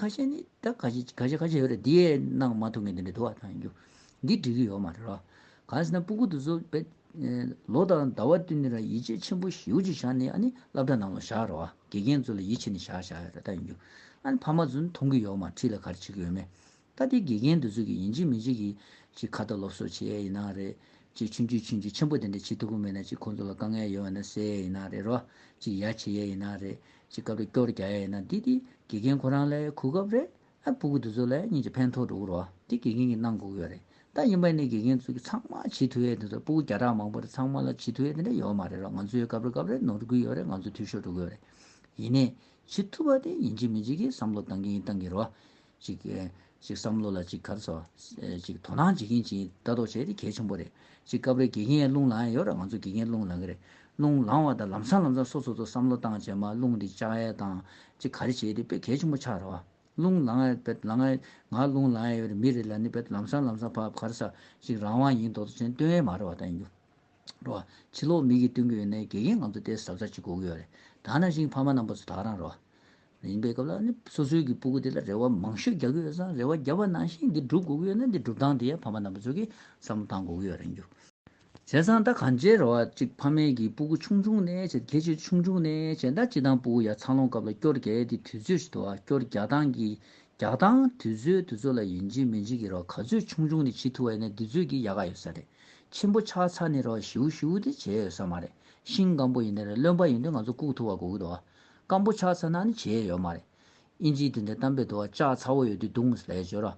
ཁ་ཤས་ནི་ད་ག་ཤེད་ག་ཤེད་ག་ཤེད་ཡོད་རེད་འདིའི་གནང་མ་ཐུབ་མཁན་དེ་འདྲ་འདུག་བ་ཐང་རྒྱུ། འདི་འགྲིག་གི་ཡོད་མ་རེད་རོ། གང་ཟེར་ན་སྤུ་གུ་དུ་ཚོ་བེ། ལོ་ལྟར་ཟླ་བ་བསྟུན་ནས་ར་ཡིད་ཆེས་ཆེན་པོ་ཞིའུ་ཅིག་བཞག་ནས་ཨ་ནི་བླ་བྲ་རྣམས་ལ་བཞག་རོགས་ཨ་དགེ་རྒན་ཚོ་ལ་ཡིད་ཆེས་ནས་བཞག་བཞག་ཡོད་རེད་ཐང་རྒྱུ། ཨ་ནི་ཕ་མ་ཚོ་ནི་མཐོང་གི་ཡོད་མ་ཁྲིད་ལ་ག་རེ་བྱེད་ཀྱི་ཡོད་མེད། ད་དེ་དགེ་རྒན་དེ་ཚོ་གི་ཡིན་གཅིག་མིན་གཅིག་གིས་ཅིག་ཁ་བརྡ་སློབ་གསོ་བྱེད་ཡས་ཡིན་ན་རེད་ཅིག་ཆུན་ཆུན་ཆུན་ཆུན་ཆེན་པོ་དེ་འདྲ་བྱེད་ཐུབ་པོ་མེད་ན་ཅིག་ཁོང་ཚོ་ལ་དཀའ་ངལ་ཡོང་ཡས་ན་སེ་ཡས་ཡིན་ན་རེད་རོ་ཅིག་ཡ་བྱེད་ཡས་ཡིན་ན་རེད་ཅིག་སྐབས་རེ་སྐྱོར་རྒྱག་ཡས་ཡིན་ན་དེ་དེ་དགེ་རྒན་ཁོ་རང་ལ་ཡས་ཁུག་སྐབས་རེ་ཨ་པུ་གུ་དེ་ཚོ་ལ་ཡས་གཉིས་ཀྱི་ཕན་ཐོག་འགྲོ་གི་རོ་དེ་དགེ་རྒན་གི་གནང་གོ་གི་རེད་ད་ཡིན་པ་ནི་དགེ་རྒན་དེ་ཚོ་གི་ཚང་མ་བྱེད་ཐུབ་ཡས་དེ་ཚོ་ཨ་པུ་གུ་བརྒྱ་ཕྲག་མང་པོ་རེད་ཚང་མ་ལ་བྱེད་ཐུབ་ཡས་དེ་འདྲ་ཡོད་མ་རེད་རོ་ང་ཚོ་ཡས་སྐབས་རེ་སྐབས་རེ་ནོར་དགོས་ཡོད་རེད་ང་ཚོ་འཐུས་ཤོར་འགྲོ་གི་ཡོད་རེད་ཡིན་ནས་བྱེད་ཐུབ་པ་དེ་ཡིན་གཅིག་མིན་གཅིག་གིས་བསམ་བློ་གཏང་གི་ཡིན་གཏང་གི་རོ། ཅིག། ཅིག་བསམ་བློ་ལ་ཅིག་གར་ཚོ། ཅིག་དོ་སྣང་བྱེད་ཀྱིན་ཅིག་ལྟ་རྟོག་བྱས་ཏེ་གལ་ཆེན་པོ་རེད། ཅིག་སྐབས་རེ་དགེ་རྒན་རླུང་ལངས་ཡས་ཡོད་ར་ང་ཚོ་དགེ་རྒན་རླུང་ལངས་གི་རེད། རླུང་ལངས་བ་དང་ལམ་སང་ལམ་སང་སོ་སོ་ཚོ་བསམ་བློ་བཏང་བྱས་མ་རླུང་འདི་ལྕགས་ཡས་དང། ཅིག་གར་བྱས་ཏེ་དཔེ་གལ་ཆེན་པོ་ཆགས་ར་བ། རླུང་ལངས་ཡས་བེད་ལངས་ཡས་ང་རླུང་ལངས་ཡས་ཡོད་རེད་མི་རེ་ལ་ནི་བེད་ལམ་སང་ལམ་སང་བག་གར་ས་ཅིག་རང་དབང་ཡིན་དོ་དོ་ཆེན་སྟོན་ཡས་མ་ར་བ་དང་ཡུ། ར་བ། ཕྱི་ལོགས་མིག་གིས་སྟོན་གི་ཡོད་ནའི་དགེ་རྒན་ང་ཚོ་ལྟས་ཟབ་ས་ཅིག་སྒུག་གི་ཡོད་རེད་ད་ནང་བཞིན་ཕ་མ་རྣམ་པ་ཚོ་དག་རང་ར་བ། ཡིན་པའི་སྐབས་ལ་ནི་སོ་སོའི་གི་སྤུ་གུ་དེ་ལ་རེ་བ་མང་ཤོས་རྒྱག་གི་ཡོད་ས་རེ་བ་བརྒྱབ་པ་ནང་བཞིན་འདི་འགྲུབ་དགོས་ཀྱི་ཡོད་ན་འདི་འགྲུབ་སྟངས་དེ་ཡང་ཕ་མ་རྣམ་པ་ཚོས་གི་བསམ་བློ་བཏང་དགོས་ཀྱི་ཡོད་རེད་འགྱུར། བྱས་ཙང་ད་གང་བྱས་རེ་བ་གཅིག་ཕ་མའི་གི་སྤུ་གུ་ཆུང་ཆུང་ནས་བྱས་ཁྱད་ཆོས་ཆུང་ཆུང་ནས་བྱས་ད་སྤྱི་དང་སྤུ་གུ་ཡ་ཚང་ལོངས་སྐབས་ལ་སྐྱོར་རྒྱ་ཡས་དེ་དུས་ཚོད་ཞིག་ཏུ་བ་སྐྱོར་རྒྱག་སྟངས་གི་རྒྱག་སྟངས་དུས་ཚོད་དུས་ཚོད་ལ་ཡིན་གཅིག་མིན་གཅིག་གི་རེ་བ་ག་ཚོད་ཆུང་ཆུང་ནས་བྱེད་ཐུབ་བ་ཡིན་ན་དུས་ཚོད་གི་ཡག་ག་ཡོད་ས་རེད་ཆེན་པོ་ཆགས་ཚར་ནས་རེ་བ་ཞིའུ་ཞིའུ་དེ་བྱས་ཡོད་ས་མ་རེད་ཤིང་སྐམ་པོ་ཡིན་ན་རེད་རློན་པ་ཡིན་དུས་ང་ཚོ་བཀུག་ཐུབ་བ་དགོས་ཀྱི་འདུག་བ་སྐམ་པོ་ཆགས་ཚར་ན་ནི་བྱེད་ཡས་ཡོད་མ་རེད། ཨིན་ཇིའི་དེ་འདྲའི་གཏམ་དཔེ་དུ་བ་ལྕགས་ཚ་བོ་ཡོད་དུས་རྡུང་ལས་བྱོས་ར།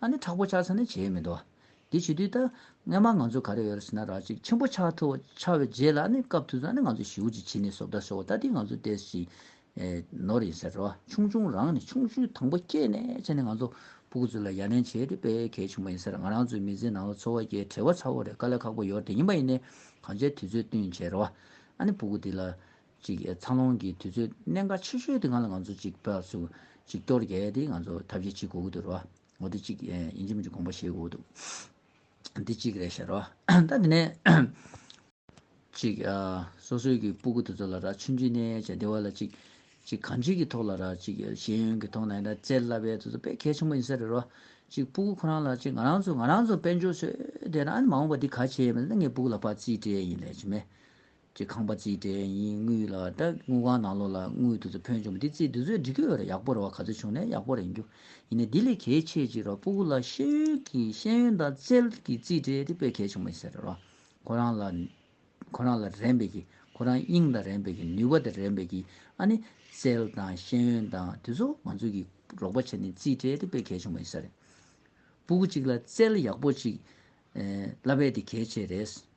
ཨ་ནི་ཁྲག་པོ་ཆགས་ཚར་ནི་བྱེད་ཡས་མི་འདུག་ཨ། དེ་བྱེད་དུས་ད་སྔས་མ་ང་ཚོ་ག་རེ་ཡོད་རེད་ཟེར་ན་ར་གཅིག་ཆེན་པོ་ཆགས་ཐུབ་བོ་ཆགས་བའི་རྗེས་ལ་ཨ་ནི་སྐབས་དུས་སུ་ཨ་ནི་ང་ཚོ་ཞིའུ་ཅིག་བྱིན་ནི་བཟོ་བདག་ཤོ་བོ་ད་དེ་ང་ཚོ་ལྟས་ཤིག། ནོར་ཡིན་ཟེར་ར་ཆུང་ཆུང་རང་ནི་ཆུང་ཤུའི་དང་པོ་སྐྱེས་ནས་བྱས་ནི་ང་ཚོ་ཕུ་གུ་ཚོ་ལ་ཡ་ལན་བྱེད་དེ་དཔེ་གལ་ཆེན་པོ་ཡིན་ཟེར་ང་རང་ཚོའི་མི་ཚེའི་ནང་ལ་འཚོ་བ་སྐྱེལ་བྲེལ་བ་ཚ་བོ་རེད་དཀའ་ལས་ཁག་པོ་ཡོད་རེད་ཡིན་པ་ཡིན་ནས་གང་བྱས་དུས་ཚོད་བསྟུན་བྱས་ར་ཨ་ནི་ཕུ་གུ་དེ་ལ། ཅིག་འཚར་ལོངས་ཀྱི་དུས་ཚོད་གནད་འགག་ཆེ་ཤོས་དེ་སྔར་ལ་ང་ཚོ་ཅིག་བོད་སུ་ཅིག་གཏོར་རྒྱལ་དེ་ང་ཚོ་ཐབས་ཤེས་བྱེད་དགོས་ཀྱི་འདུག་རེད་བ། ངོ་དེ་ཅིག་ཡིན་གཅིག་མིན་གཅིག་དགོངས་པ་བཞེས་དགོས་འདུག་འདི་ཅིག་རེད་ཤར་བ། ད་དེ་ནས། ཅིག་སོ་སོའི་གི་སྤུ་གུ་དེ་ཚོ་ལ་ར་ཆུན་ཆུན་ནས་བྱ་བདེ་བ་ལ་ཅིག་ཅིག་གང་ཅིག་གི་ཐོག་ལ་ར་ཅིག་ཤེས་ཡོན་གི་ཐོག་ན་ཡིན་ན་བཙལ་སླ་བའི་དེ་ཚོ་དཔེ་གལ་ཆེན་པོ་ཡིན་ས་རེད་བ། ཅིག་སྤུ་གུ་ཁོ་རང་ལ་ཅིག་ང་རང་ཚོ་ང་རང་ཚོ་དཔལ་འབྱོར་སོས་དེ་ན་ཨ་ནི་མ་འོངས་པ་འདི་ག་བྱེད་ཡས་མེད་ད་ངའི་སྤུ་གུ་ལ་ཕ་ཙིས་སྤྲད་ཡིན་ལས་ཅི་མེད། ཀྱི་ཁང་པ་གཅིག་དྲན་ཡིན་དངུལ་ལ་སྐྲ་དངུལ་ཁང་ནང་ལོགས་ལ་དངུལ་དུ་ཚུར་ཕོན་བྱུང་བ་དེ་ཚེ་འདི་ཚོའི་འབྲི་ཁུལ་བར་ཡག་པོ་རེ་བ་ག་ཚོད་བྱུང་ནས་ཡག་པོ་རེད་རྒྱུ་ཡིན་ནའི་དེ་ལས་གལ་ཆེ་གཅིག་ར་སྤུ་གུ་ལ་ཤེས་ཡོན་གྱི་ཤེས་ཡོན་དང་རྩལ་གྱི་རྩིས་ཁྲའི་དེ་དཔེ་གལ་ཆེན་པོ་ཡིན་ས་རེད་རོ། ཁོ་རང་ལ་ཁོ་རང་ལ་རན་པའི་གི་ཁོ་རང་དབྱིངས་དང་རན་པའི་གི་ནུས་པ་དང་རན་པའི་གི་ཨ་ནི་རྩལ་དང་ཤེས་ཡོན་དང་དེ་ཚོ་ང་ཚོས་གི་རོགས་པ་བྱས་ནས་རྩིས་ཁྲའི་དེ་དཔེ་གལ་ཆེན་པོ་ཡིན་ས་རེད། སྤུ་གུ་གཅིག་ལ་རྩལ་ཡག་པོ་གཅིག་བསླབ་པའི་དེ་གལ་ཆེ་རེད།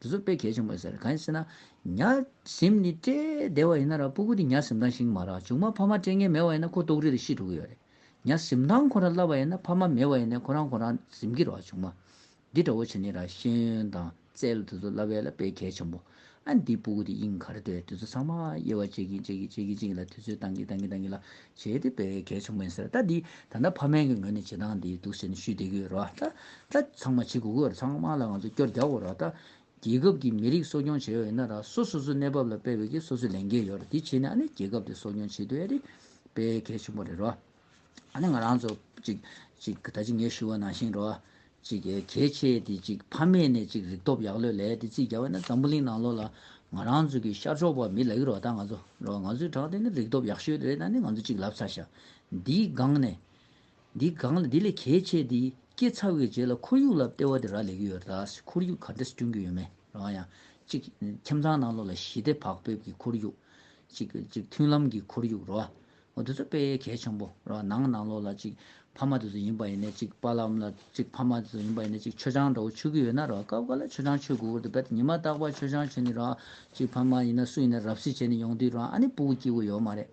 དེ་ཚོར་དཔེ་གལ་ཆེན་པོ་ཟེར་གང་ཡིན་ཟེར་ན། ཉག་གཟིམ་ནི་བཀྲེས་བདེ་བ་ཡིན་ན་ར་སྤུ་གུ་དེ་ཉག་གཟིམ་ཐང་ཞིག་མ་རག་ཆུང་མ་ཕ་མ་སྤྲད་ངེས་མེད་བ་ཡིན་ན་ཁོ་ལྟོགས་རིག་དང་ཤི་འགྲོ་གི་ཡོད་རེད། ཉག་གཟིམ་ཐང་ཁོ་རང་བསླབ་པ་ཡིན་ན་ཕ་མ་མེད་བ་ཡིན་ནའི་ཁོ་རང་ཁོ་རང་གཟིམ་གི་རོགས་ཆུང་མ། འདི་འདྲ་བོ་བྱེད་ནི་ར་ཤེས་ཡོན་དང་རྩལ་དེ་ཚོ་བསླབ་བས་ལ་དཔེ་གལ་ཆེན་པོ། ཨ་འདིའི་སྤུ་གུ་དེ་དབྱིངས་གར་སྡོད་དེ་ཚོ་ཚང་མ་དབྱེ་བ་འབྱེད་གིན་འབྱེད་གིན་འབྱེད་གིན་འབྱེད་གིན་ལ་དེ་ཚོས་བཏང་གིན་བཏང་གིན་བཏང་གིན་ལ་བྱས་ཏེ་སྤེལ་གལ་ཆེན་པོ་ཡིན་ཟེར་ད་འདི་ད་ལྟ་ཕ་མའི་གི་ངོས་ནས་བྱེད་སྟངས་འདི་འདུག་ཟེར་ནས་ཞུས་བསྡད་གི་རོ་ད་ད་ཚང་མ་བྱེད་དགོས་གི་རོ་ཚང་དམངས་ལ་ང་ཚོ་སྐྱོར་རྒྱག་གི་རོ་ད་རྒྱལ་ཁབ་ཀྱི་མི་རིགས་གསོ་སྐྱོང་བྱེད་ཡོ་ཡིན་ན་ར་སོ་སོ་སོའི་གནས་བབ་ལ་སྤེལ་བའི་གི་སོ་སོའི་ལས་འགན་ཡོ་ར་འདི་བྱེད་ནས་ཨ་ནི་རྒྱལ་ཁབ་དེ་གསོ་སྐྱོང་བྱེད་དུ་ཨེ་རེད་སྤེལ་གལ་ཆེན་པོ་རེད་རོ་ཨ་ནི་ང་རང་ཚོ་གཅིག་གཅིག་གི་ད་ཅི་ངས་ཞུ་བ་ནང་བཞིན་རོ། ཅིག་གལ་ཆེ་དེ་ཅིག་ཕ་མེས་ནས་ཅིག་རིག་སྟོབས་ཡག་ལོས་ལས་དེ་རྩིས་རྒྱ་བས་ན་འཛམ་བུ་གླིང་ནང་ལོ་ལ་ང་རང་ཚོ་གི་ཤར་ཕྱོགས་པ་མི་ལ་ཡུ་རོ་ད་ང་ཚོ་རོ་ང་ཚོའི་བྲག་དེ་ནི་རིག་སྟོབས་ཡག་ཤོས་དེ་རེད་ད་ནི་ང་ཚོ་ཅིག་ལབ་ཚ་ཤ་འདིའི་སྒང་ནས་འདི་སྒང་ལ་དེ་ལས་གལ་ཆེ་དེ་སྐྱེ་ཚ་བའི་རྗེས་ལ་ཁོར་ཡུག་ལ་ལྟེ་བ་དེ་ར་ལས་གི་ཡོད་རེད་ད་ཁོར་ཡུག་ག་འདྲ་སྐྲུན་གི་ཡོད་མེད་རང་ཡང་ཅིག་ཁྱིམ་ཚང་ནང་ལོ་ལ་ཞི་བདེ་བག་ཕེབས་གི་ཁོར་ཡུག་ཅིག་ཅིག་མཐུན་ལམ་གི་ཁོར་ཡུག་རོ་ཨོ་དེ་ཚོ་དཔེ་ཡའི་གལ་ཆེན་པོ་ར་བ་ནང་ནང་ལོགས་ལ་ཅིག་ཕ་མ་དེ་ཚོ་ཡིན་པ་ཡིན་ནས་ཅིག་པ་ལམ་ལ་ཅིག་ཕ་མ་དེ་ཚོ་ཡིན་པ་ཡིན་ནས་ཅིག་ཆོས་ཆང་འདྲ་བོ་ཆུ་གི་ཡོད་ན་ར་བ་སྐབས་འགའ་ལ་ཆོས་ཆང་ཆུ་གི་འུར་དུ་བད་ཉི་མ་རྟག་པར་ཆོས་ཆང་ཆུ་ནི་ར་བ་ཅིག་ཕ་མ་ཡིན་ན་སུ་ཡིན་ན་རབ་སེ་བྱས་ནས་ཡོང་དུས་ར་བ་ཨ་ནི་སྤུ་གུ་སྐྱིད་གུ་ཡོད་མ་རེད་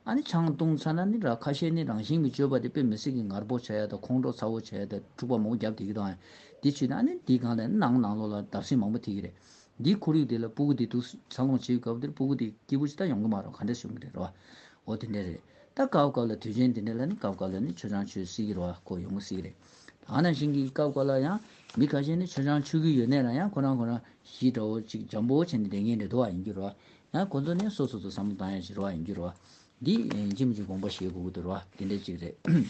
ཨ་ནི་ཆང་བཏུང་ཚར་ན་ནི་ར་བ་ཁ་ཤས་ནི་རང་བཞིན་གི་སྤྱོད་པ་དེ་དཔེ་མི་སྲིད་ཀི་ངར་པོ་བྱ་ཡ་དང་ཁོང་ཁྲོ་ཚ་བོ་བྱ་ཡ་དང་འཁྲུག་པ་མང་པོ་རྒྱབ་དེ་གི་དང་ཡ་དེ་ཆུད་ནས་ཨ་ནི་འདི་གང་ལ་ཡིན་ནང་ནང་ལོགས་ལ་བརྡབ་སེམས་མང་པོ་ཐེབས་ཀི་རེད་འདིའི་ཁོར་ཡུག་དེ་ལ་སྤུ་གུ་དེ་དུག་ཚ་སློང་བྱེད་སྐབས་དེར་སྤུ་གུ་དེ་སྐྱིད་པོ་ཇི་ལྟར་ཡོང་གི་མ་རུང་ག་འདྲ་བྱུང་གི་རེད་ར་བ། འོ་དེ་འདྲ་རེད། ད་སྐབས་སྐབས་ལ་དུས་ཆེན་དེ་འདྲ་ལ་ནི་སྐབས་སྐབས་ལ་ནི་ཆུ་ཆང་མཆོད་སྲིད་ཀྱི་ར་བ་ཁོ་ཡོང་གི་སྲིད་ཀྱི་རེད། ཐ་ན་ཞིང་གི་སྐབས་སྐབས་ལ་ཡང་མི་ཁ་ཤས་ནི་ཆུ་ཆང་མཆོད་ཀྱི་ཡོད་གནས་ན་ཡང་ཁོ་རང་ཁོ་རང་གཞིས་འདྲ་བོ་ཅིག་འཇམ་པོ་བྱས་ནས་བསྡད་མཁན་རེད་དོ་བ་ཡིན་གྱི་ར་བ། ཡང་ཁོ་ཚོ་ནི་སོ་སོ་ཚོ་བསམ་བློ་བཏང་ཡ་ཞིག་ར་བ་ཡིན་གྱི་ར་བ། འདི་ཅི་མི་ཅི་དགོངས་པ་ཞེས་གུ་གུ་དོ་ར་བ་དེ་འདྲས་ཅིག་རེད།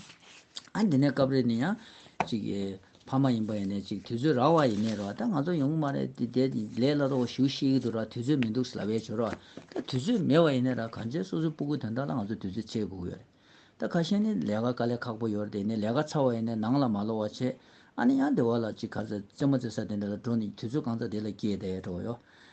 ཨ་དེ་ནས་སྐབས་རེ་ནི་ཡང། ཅིག་གི། ཕ་མ་ཡིན་པ་ཡིན་ནས་ཅིག་དུས་ཚོད་རག་བ་ཡིན་ནས་རོ་ད་ང་ཚོ་ཡོང་གི་མ་རེད་དེ་དེ་ལས་ལ་རོགས་ཞུ་ཤེས་ཀྱི་འདུག་ར་དུས་ཚོད་མི་འདུག་ཟླ་བའི་བྱོ་ར་བ་ད་དུས་ཚོད་མེད་བ་ཡིན་ནས་ར་གང་ཚེ་སོ་སོའི་སྤུ་གུ་དོན་དག་ལ་ང་ཚོ་དུས་ཚོད་ཆད་གུ་གུ་ཡོད་རེད་ད་ཁ་ཤས་ནི་ལས་ཀ་དཀའ་ལས་ཁག་པོ་ཡོད་རེད་དེ་ནི་ལས་ཀ་ཚ་བ་ཡིན་ནས་ནང་ལ་མ་ལོག་བ་ཆེད་ཨ་ནི་ཡང་དེ་བ་ལ་ཅིག་ག་ཚེ་རྩེད་མོ་རྩེ་ས་དེ་འདྲ་ལ་འགྲོ་ནི་དུས་ཚོད་གང་ཚ་དེ་ལ་སྐྱེས་དེ་འགྲོ་གི་ཡོད་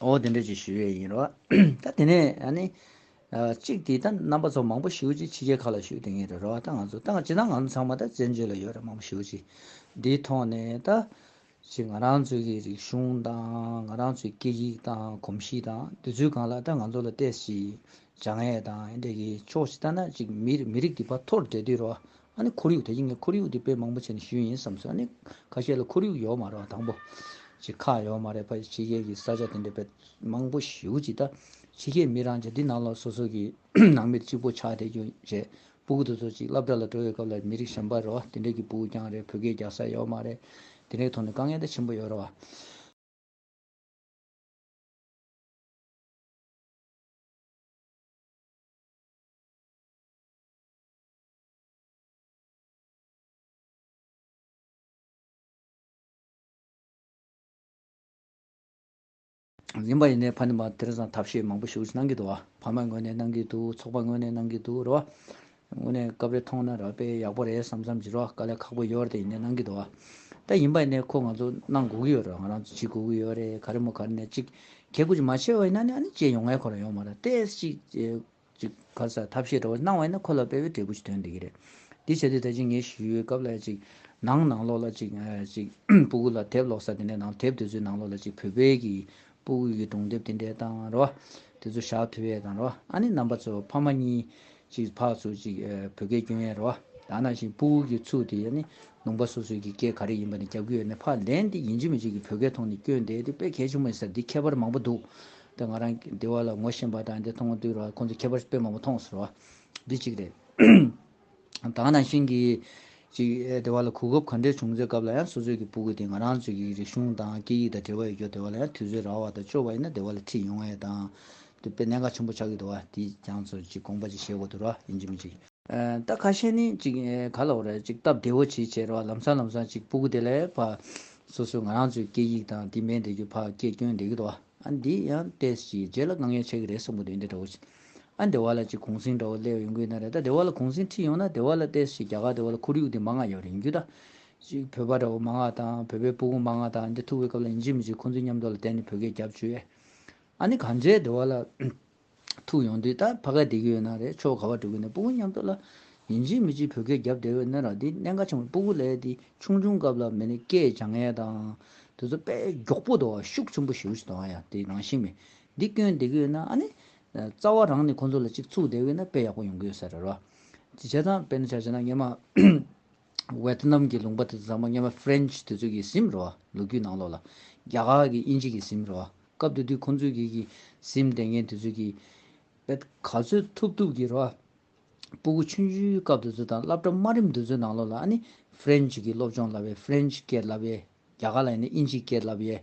འོ་དེ་འདྲ་ཅིག་ཞུས་ཡས་ཡིན་རོ། ད་དེ་ནས་ཨ་ནི། གཅིག་དེ་ད་རྣམ་པ་ཚོ་མང་པོ་ཞིག་ཅིག་ཕྱི་རྒྱལ་ཁག་ལ་ཞུས་དེ་ངེས་རེད་རོ། ད་ང་ཚོ་ད་ཅི་ད་ང་ཚོ་ཚང་མ་ད་བཙན་བྱོལ་ལ་ཡོད་རེད་མང་པོ་ཞིག་ཅིག་འདིའི་ཐོག་ནས་ད། ཅིག་ང་རང་ཚོའི་གི་རིག་གཞུང་དང་ང་རང་ཚོའི་སྐད་ཡིག་དང་གོམས་གཤིས་དང་དུས་ཚོད་གང་ལ་ད་ང་ཚོ་ལ་བལྟས་ཤིག། བྱ་ངད་དང་ཨེ་འདྲ་གི་ཕྱོགས་ཅིག་ད་ན་ཅིག་མི་རིགས་འདི་བ་ཐོར་འདྲེ་འདི་རོ། ཨ་ནི་ཁོར་ཡུག་དེ་བཞིན་ངས་ཁོར་ཡུག་འདི་དཔེ་མང་པོ་བྱས་ནས་ཞུས་ཡིན་བསམས་སོང་ཨ་ནི། ཁ་ཤས་ལ་ཁོར་ཡུག་ཡོག་མ་རེད་བ་དང་པོ། ཅི་ཁག་ཡོག་མ་རེད་བ་ཕྱི་རྒྱལ་གྱི་ས་ཆ་དེ་འདྲ་དཔེ་མང་པོ་ཞུས་ཅི་ད། ཕྱི་རྒྱལ་མི་རང་ཆ་འདི་ནང་ལ་སོ་སོ་གི་ནང་མིར་གཅིག་པོ་ཆགས་བསྡད་རྒྱུ་རེད། སྤུ་གུ་དེ་ཚོ་ཅིག་བླ་བྲ་ལ་འགྲོ་བའི་སྐབས་ལ་མི་རིགས་གཞན་པ་རེད་བ་དེ་འདྲ་གི་སྤུ་གུ་རྐྱང་རེད་བོད་སྐད་རྒྱག་ས་ཡོག་མ་རེད། དེ་འདྲའི་ཐོག་ནས་དཀའ་ངལ་ད་ཆེན་པོ་ཡོག་རེད་བ། ཡིན་པ་ཡིན་ནའི་ཕ་ནི་མ་དེར་བཟང་ཐབས་ཤེས་མང་པོ་ཞུགས་གནང་གི་འདུག་ཕ་མ་ངོས་ནས་གནང་གི་འདུག་ཚོགས་པ་ངོས་ནས་གནང་གི་འདུག་རེད་བ། ངོས་ནས་སྐབས་རེ་མཐོང་ན་རག་པས་ཡག་པོ་རེད་བསམ་བསམ་གྱི་རེད་བ་དཀའ་ལས་ཁག་པོ་ཡོད་རེད་ཡིན་ནའི་གནང་གི་འདུག་བ། ད་ཡིན་པ་ཡིན་ནའི་ཁོ་ང་ཚོ་གནང་དགོས་ཀྱི་ཡོད་རེད་བ་ང་རང་ཚོ་བྱེད་དགོས་ཀྱི་ཡོད་རེད་ག་རེ་མོ་ག་རེ་ནས་གཅིག་གལ་ཀུ་ཅིག་མ་བྱས་བ་ཡིན་ན་ནི་ཨ་ནི་བྱས་ཡོང་ངེས་ཁོ་ན་ཡོང་མ་རེད་དེ་ཅིག་ཅིག། ག་ས་ཐབས་ཤེས་འདྲ་བོ་སྣང་བ་ཡིན་ན་ཁོ་ལ་དཔེ་བའི་འབྲས་བུ་ཞིག་ཐོན་བསྡད་ཀྱི་རེད། འདི་བྱས་དུས་ད་ཅིག་ངས་ཞུས་ཡོད་སྐབས་ལ་ཅིག། ནང་ནང་ལོགས་ལ་ཅིག། ཅིག། སྤུ་གུ་ལ་དེབ་ཀློག་ས་དེ་འདྲའི་ནང་དེབ་དེ་ཚོའི་ནང་ལོགས་ལ་ཅིག་བོད་དཔེ་གྱི་སྤུ་གུ་ཡི་སྒྲུང་དེབ་དེ་འདྲའི་དང་རེད་བ། དེ་ཚོ་བཞག་ཐུ་བས་དང་རེད་བ། ཨ་ནེ་རྣམ་པ་ཚོ་ཕ་མ་གཉིས། ཅིག་ཕག་ཚོ་ཅིག། བོད་སྐད་སྐྱོན་ཡས་རེད་བ། ད་ནང་བཞིན་སྤུ་གུ་གྱི་ཚུགས་དེ་ཡས་ནི་ལུང་པ་སོ་སོའི་གྱི་སྐད་ག་རེ་ཡིན་པ་ནི་རྒྱབ་གྱི་ཡས་ནི་ཕ་ལན་དེ་ཡིན་ཅིག་མི་ཅིག་གི་བོད་སྐད་མཐོང་ནི་སྐྱོན་དེ་དེ་དཔེ་གལ་ཆེན་པོ་ཡིན་ས་དེ་ཁྱད་པར་མང་པོ་འདུག་དེ་ང་རང་གི་བདེ་བ་ལ་ངོ་ཤེས་པ་དང་དེ་མཐོང་དུས་རོ་ཁོང་ཚོ་ཁྱད་པར་དཔེ་མང་པོ་མཐོང་ཟེར་བ། འདི་གཅིག་རེད། ད་ནང་བཞིན་གྱི། ཅིག་བདེ་བ་ལ་གོ་སྐབས་ག་འདྲའི་བྱུང་ཚེ་སྐབས་ལ་ཡང་སོ་སོས་ཀྱི་སྤུ་གུ་དེ་ང་རང་ཚོས་ཀྱི་རིག་གཞུང་དང་སྐད་ཡིག་དང་འབྲེལ་བ་ཡོད་སྐྱོ་བདེ་བ་ལ་ཡང་དུས་ཚོད་རག་བ་དང་སྤྱོ་བ་ཡིན་ན་བདེ་བ་ལ་ཁྲིད་ཡོང་ཡས་དང། དེ་དཔེ་གནད་འགག་ཆེན་པོ་ཆགས་ཀྱི་འདུག་བ་འདིས་ཀྱང་ཚོར་ཅིག་དགོངས་པ་ཅིག་བཞེས་དགོས་འདུག་ར་ཡིན་གྱི་མིན་གྱི། རྟ་ཁ་ཤས་ནི་ཅིག་ག་ལ་བ་རེད་ཅིག་སྟབས་བདེ་བོ་བྱེད་བྱེད་རོགས་ལམ་སང་ལམ་སང་ཅིག་སྤུ་གུ་དེ་ལས་བ། སོ་སོའི་ང་རང་ཚོའི་སྐད་ཡིག་དང་དེ་མེད་འདི་རྒྱུ་བ་སྐད་སྐྱོན་འདེ་གི་དོ་ཨ་འདི་ཡང་ལྟས་ཅིག་རྗེས་ལ་དཀའ་ངལ་ཆག་གི་རེད་སོང་གི་འདི་འདྲ་འདྲ་བོ་ཅིག་ཨ་འདི་བ་ལ་ཅིག་གུང་སེང་འདྲ་བོ་སླེ་ཡོང་གི་ན་རེད་ད་འདི་བ་ལ་གུང་སེང་ཁྲིད་ཡོང་ན་འདི་བ་ལ་ལྟས་ཅིག་རྒྱ་གར་འདི་བ་ལ་ཁོར་ཡུག་འདི་མ་ང་ཡོད་རེད་ཡིན་རྒྱུ་ད། ཅིག་བོད་པ་འདྲ་བོ་མ་ང་དང་བོད་པའི་སྤུ་གུ་མ་ང་དང་འདི་ཐུག་བའི་སྐབས་ལ་ཡིན་ཅིག་མི་ཅིག་ཁོང་ཚོའི་མཉམ་དུ་ལ་བསྟན་ནི་བོད་སྐད་རྒྱབ་བྱོས་ཨ་ནི་ག་འདྲའི་འདི་བ་ལ། ཐུག་ཡོང་དུས་ད་ཕ་ག་བསྡད་ཀྱི་ཡོད་ན་རེད་ཆོག་ག་བ་འགྲོ་གི་འདུག་སྤུ་གུ་མཉམ་འཐོར་ལ། ཡིན་གཅིག་མི་གཅིག་བོད་སྐད་རྒྱབ་བསྡད་པའི་སྣོད་རང་དེ་གནད་འགག་ཆེན་པོ་སྤུ་གུ་ལས་དེ་ཆུང་ཆུང་སྐབས་ལ་མི་ནི་སྐད་བྱ་ངན་དང། དེ་ཚོ་དཔེ་མགྱོགས་པོ་དང་ཤུགས་ཆེན་པོ་ཞེའུ་ཞིག་དང་ཡང་དེ་རང་བཞིན་མེད། འདི་སྐྱོན་བསྡད་ཀྱི་ཡོད་ན་ཨ་ནི། རྩ་བ་རང་ནས་ཁོང་ཚོ་ལ་གཅིག་ཚུགས་བསྡད་ཡོད་ན་དཔེ་ཡག་པོ་ཡོང་གི་ཡོད་ཟེར་ར་རོ། བྱས་ཙང་དཔེ་ན་བྱ་བྱས་ན་ངས་མ། ཝེ་ཐི་ནམ་གྱི་ལུང་པ་དེ་ཚོ་ཚང་མ་སྙན་པ་ཧྥེ་རན་ཆི་དེ་ཚོ་གི་ཟིམ་རེད་བ་ལོ་རྒྱུས་ནང་ལོག་ལ། རྒྱ་གར་གྱི་དབྱིན་ཇི་གི་ཟིམ་རེད་བ་སྐབས་དེ་དུས་ཁོང་ཚོས་གི་གི་ཟིམ་ལྟས་ངན་དེ་ཚོས་གི། བེ་ད་ག་ཚོད་ཐུབ་ཐུབ་གི་རེད་བ། སྤུ་གུ་ཆུན་ཆུན་སྐབས་དེ་ཚོ་དང་བསླབ་གྲྭ་དམའ་རིམ་དེ་ཚོའི་ནང་ལོག་ལ་ཨ་ནི་ཧྥེ་རན་ཆི་གི་སློབ་སྦྱོང་བསླབ་བས་ཧྥེ་རན་ཆི་སྐད་བསླབ་བས་རྒྱ་གར་ལ་ཡིན་ན་དབྱིན་ཇི་སྐད་བསླབ་བས།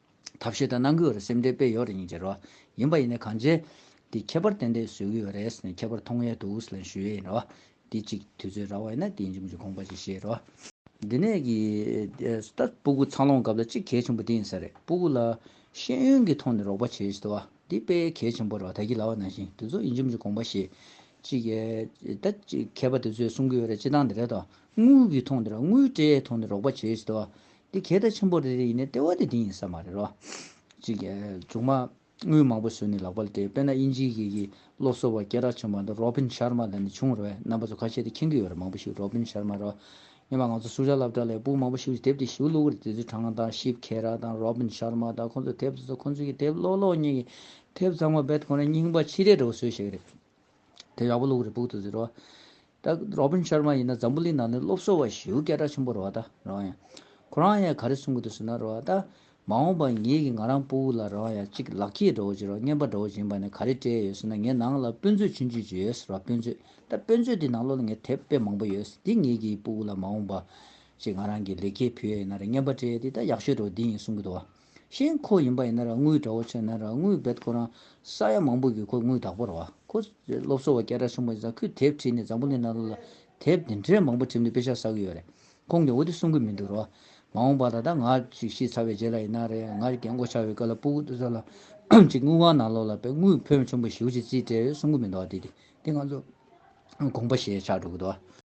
ཐབས་ཤེས་དང་ནང་གི་འོད་སེམས་དེ་དཔེ་ཡོད་རེ་གཉིས་ཀྱི་རེ་བ་ཡིན་པ་ཡིན་ནའི་གང་བྱས། དེ་ཁྱད་པར་ཏན་ཏན་བཟོས་གི་ཡོད་རེད་ཟེར་ནས་ཁྱད་པར་མཐོང་ཡས་དུ་ལན་ཞུ་ཡས་ཡིན་རེ་བ། དེ་ཅིག་དུས་ཚོད་རག་བ་ཡིན་ན་དེ་ཡིན་གྱི་མིན་གྱི་དགོངས་པ་ཅིག་བཞེས་རེ་བ། འདི་ནས་ཀྱི། ད་སྤུ་གུ་འཚར་ལོངས་སྐབས་ལ་གཅིག་གལ་ཆེན་པོ་དེ་ཡིན་ས་རེད་སྤུ་གུ་ལ། ཤེས་ཡོན་གྱི་ཐོག་ནས་རོགས་པ་བྱས་ཞེས་དུ་བ། འདི་དཔེ་གལ་ཆེན་པོ་རེད་བ་ད་ཁྱི་ལ་བ་ནང་བཞིན་དུས་ཚོད་ཡིན་གྱི་མིན་གྱི་དགོངས་པ་བཞེས། ཅིག། ད་ཅིག་མཁས་པ་དེ་ཚོས་གསུང་གི་ཡོད་རེད་སྤྱི་བཏང་འདི་རེད་དོ། དངུལ་གྱི་ཐོག་ནས་རོགས་དངུལ་སྤྲད་ཡས་ཐོག་ནས་རོགས་པ་བྱས་ཞེས་དུ་བ། འདི་གལ་ཐ་ཆེན་པོ་རེད་རེད་ཡིན་ནའི་ལྟེ་བ་དེ་འདི་ཡིན་ས་མ་རེད་རོ། ཅིག་མཇུག་མ་དངུལ་མང་པོ་ཟོས་ནས་ལག་པར་དེད་དཔེར་ན་དབྱིན་ཇིའི་གི་གི་སློབ་གསོ་བ་སྐད་གྲགས་ཆེན་པོ་འདི་རོ་བྷིན་ཤར་མ་ལ་ནས་བྱུང་རོ་བས་རྣམ་པ་ཚོ་ཁ་ཤས་དེ་མཁྱེན་གི་ཡོད་རེད་མང་པོ་ཞིག་རོ་བྷིན་ཤར་མ་རོ། སྙམ་པ་ང་ཚོ་སུ་ཇཱ་ལབ་དྲ་ལས་སྤུག་མང་པོ་ཞིག་གིས་དེབ་དེ་ཞིབ་བླུག་གི་རེད་དེ་ཚོའི་དྲང་དང་ཞིབ་ཁེ་ར་དང་རོ་བྷིན་ཤར་མ་དང་ཁོ་ཚོ་དེབ་ཚོ་ཁོ་ཚོ་གི་དེབ་ཀློག་ཀློག་ཉིན་གི་དེབ་ཚང་མ་བེད་ཁོ་ན་རྙིང་པ་ཕྱི་རེ་རེ་བོ་ཟོས་ཤེས་གི་རེད་དེ་ཡག་པོ་བླུག་གི་རེད་སྤུག་དུ་ཟོས་རོ། ད Robin Sharma ཡིན་ན་འཛམ་བུ་གླིང་ནང་ནས་སློབ་གསོ་བ་ཞེའུ་སྐད་གྲགས་ཆེན་པོ་རེད་བ་ད་རང་ཡང། ཁོ་རང་ཡང་ག་རེ་གསུང་གི་འདུག་ཟེར་ན་རེད་བ་ད། མ་འོངས་པར་ངེད་ཀྱི་ང་རང་སྤོ་བོ་ལ་རང་ཡང་གཅིག་ལག་འཁྱེར་འདྲ་བོ་བྱེད་རོགས་བརྙན་པར་འདྲ་བོ་བྱིན་པ་ནས་ག་རེ་སྤྲད་ཡོད་ཟེར་ན་ངའི་ནང་ལ་དཔོན་ཚོས་བྱོན་བྱོན་བྱོས་ཟེར་བ་དཔོན་ཚོས་ད་དཔོན་ཚོས་དེ་ནང་ལོག་ལ་ངའི་དེབ་དཔེ་མང་པོ་ཡོད་འདི་ངེད་ཀྱི་སྤོ་བོ་ལ་མ་འོངས་པ། ཅིག་ང་རང་གི་ལེགས་སྐྱེས་ཕུལ་ཡ་ཡིན་ན་རེ་བརྙན་པར་སྤྲད་ཡོད་འདི་ད་ཡག་ཤོས་འདྲ་བོ་འདི་ཡིན་གསུང་གི་འདུག་བ། ཤིང་ཁོ་ཡིན་པ་ཡིན་ན་ར་དངུལ་དགྲ་བོ་ཆེ་ན་ར་དངུལ་རྦད་ཁོ་རང་ས་ཡ་མང་པོ་གི་ཁོ་དངུལ་བདག་པོ་ར་བ་ཁོ། སློབ་གསོ་བ་སྐད་གྲགས་ཆེན་པོ་ཛ་ཁུས་དེབ་བྲིས་ནས་འཛམ་བུ་གླིང་ནང་ལོ་ལ་དེབ་འདི་འདྲའི་མང་པོ་བྲིས་ནས་དཔེ་ཆ་ཟ་གི་ཡོད་རེད་ཁོང་གིས་འོ་དེ་གསུང་གི་མི་འདུག་ར་བ་མ་འོངས་པ་ད་ལྟ་ང་ཅིག་ཤི་ཚར་བའི་རྗེས་ལ་ཡིན་ན་རེད་ང་རྒན་མགོ་ཆག་བའི་སྐབས་ལ་སྤུ་གུ་ཟ་ལ་ཅིག་དངུལ་བང་ནང་ལོ་ལ་དཔེ་དངུལ་ཕོན་ཆེན་པོ་ཞིག་ཅིག་རྩིས་སྤྲད་ཡོད་གསུང་གི་མི་འདུག་ར་དེ་དེ་ང་ཚོ་དགོངས་པ་ཞེ་ཆགས་འགྲོ་གི་འདུག་ར།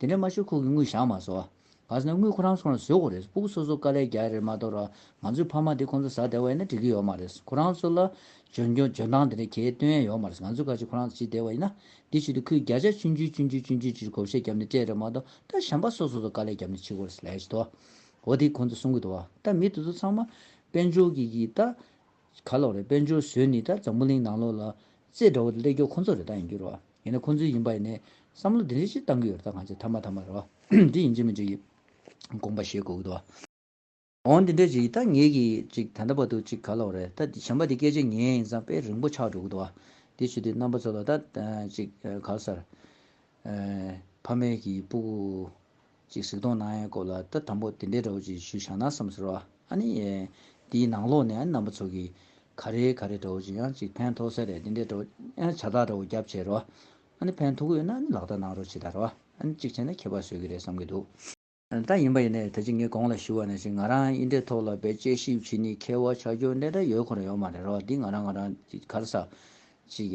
དེ་འདྲ་མ་ཤོར་ཁོ་གི་དངུལ་བཞག་མ་བཟོ། ག་ཟེར་ན་དངུལ་ཁོ་རང་ཚོ་ལ་བཟོས་གོ་རེད་པུག་སོ་སོ་དཀའ་ལས་རྒྱག་ཡ་རེད་མ་གཏོགས་རང་ང་ཚོའི་ཕ་མ་དེ་ཁོང་ཚོ་ཟ་བདེ་བ་ཡིན་ན་འགྲིག་གི་ཡོད་མ་རེད་ཁོ་རང་ཚོ་ལ་འཇོན་འཇོན་འཇོན་ཐང་དེ་འདྲ་གྱེས་སྟོན་ཡ་ཡོད་མ་རེད་ང་ཚོ་ཁ་ཅིག་ཁོ་རང་ཚོ་ཇི་བདེ་བ་ཡིན་ན་འདི་ཞིག་ཏུ་ཁོའི་བརྒྱ་ཆ་བཅུ་འཇུ་བཅུ་འཇུ་བཅུ་འཇུ་ཅིག་གོ་བཤད་རྒྱབ་ནས་སྤྲད་རེད་མ་གཏོགས་ད་གཞན་པ་སོ་སོ་ཚོ་དཀའ་ལས་རྒྱབ་ནས་འཆི་གོ་རེད་ལས་བྱེད་དོ་འོ་དེ་ཁོང་ཚོ་གསུང་གི་འདུག་བ་ད་མི་དེ་ཚོ་ཚང་མ་དཔལ་འབྱོར་གྱི་གིས་ད། ག་ལོག་རེད་དཔལ་འབྱོར་བཟོས་ནི་ད་འཛམ་བུ་གླིང་ནང་ལོག་ལ་རྩེད་འགྲོ་བ་དེ་ཀླད་ཀྱོག་ཁོ་ཚོ་རེད་ད་ཡིན་རྒྱུ་རོ་ཡིན་ན་ཁོ་ཚོའི་ཡིན་པ་ཡིན་ནས་བསམ་བློ་དེ་འདྲའི་ཅིག་བཏང་གི་ཡོད་རེད་ད་གང་ཅིག་ཐ་མ་ཐ་མ་རེད་བ་འདི་ཡིན་ཅིག་མིན་ཅིག་ཡིན་དགོངས་པ་བཞེས་དགོས་ཀྱི་འདུག། འོང་དེ་འདྲའི་ཅིག་ཡིན་ད་ངེད་ཀྱིས་ཅིག་ད་འདྲ་བ་འདུག་ཅིག་ག་ལོག་རེད་ད་གཞན་པ་དེ་སྐད་ཆ་ཉན་ཡིན་ཙང་དཔེ་རིང་པོ་ཆགས་འགྲོ་གི་འདུག་བ་དེ་ཆུ་དེ་རྣམ་པ་ཚོ་ལ་ད་ཅིག་ག་ལ་སར། ཕ་མེས་ཀྱི་སྤུ་གུ། ཅིག་གཟིགས་མདོག་ནག་ཡང་སྐོར་ལ་ད་དམ་པོ་དེ་འདྲའི་འདྲ་བོ་ཅིག་ཞུས་བཞག་ན་བསམ་ཟེར་བ་ཨ་ནི། དེའི་ནང་ལོགས་ནས་ཨ་ནི་རྣམ་པ་ཚོ་གིས། ག་རེ་ག་རེ་འདྲ་བོ་ཅིག་ཡང་ཅིག་ཕན་ཐོགས་སའི་རེད་དེ་འདྲའི་འདྲ་བོ། ཨ་ནི་བྱ་ཐག་འདྲ་བོ་རྒྱབ་བྱས་རོགས། ཨ་ནི་ཕན་ཐོགས་གི་ཡོད་ན་ཨ་ནི་ལག་བསྟར་གནང་རོགས་ཅིག་ད་རེད་བ། ཨ་ནི་ཅིག་བྱས་ན་ཁྱད་པར་བཟོས་ཀྱི་རེད་བསམ་གྱི་འདུག། ད་ཡིན་པ་ཡིན་ནའི་ད་ཅིག་ངས་གོང་ལ་ཞུས་བ་ནས་ཅིག་ང་རང་ཨི་འདྲའི་ཐོག་ལ་བེད་སྤྱད་ཞིབ་བྱེད་ནི་མཁས་བ་ཆགས་རྒྱུ་འདྲ་འདྲ་ཡོད་ཁོ་ན་ཡོད་མ་རེད་རོགས་འདི་ང་རང་ང་རང་ཅིག་གར་ས་ཅིག།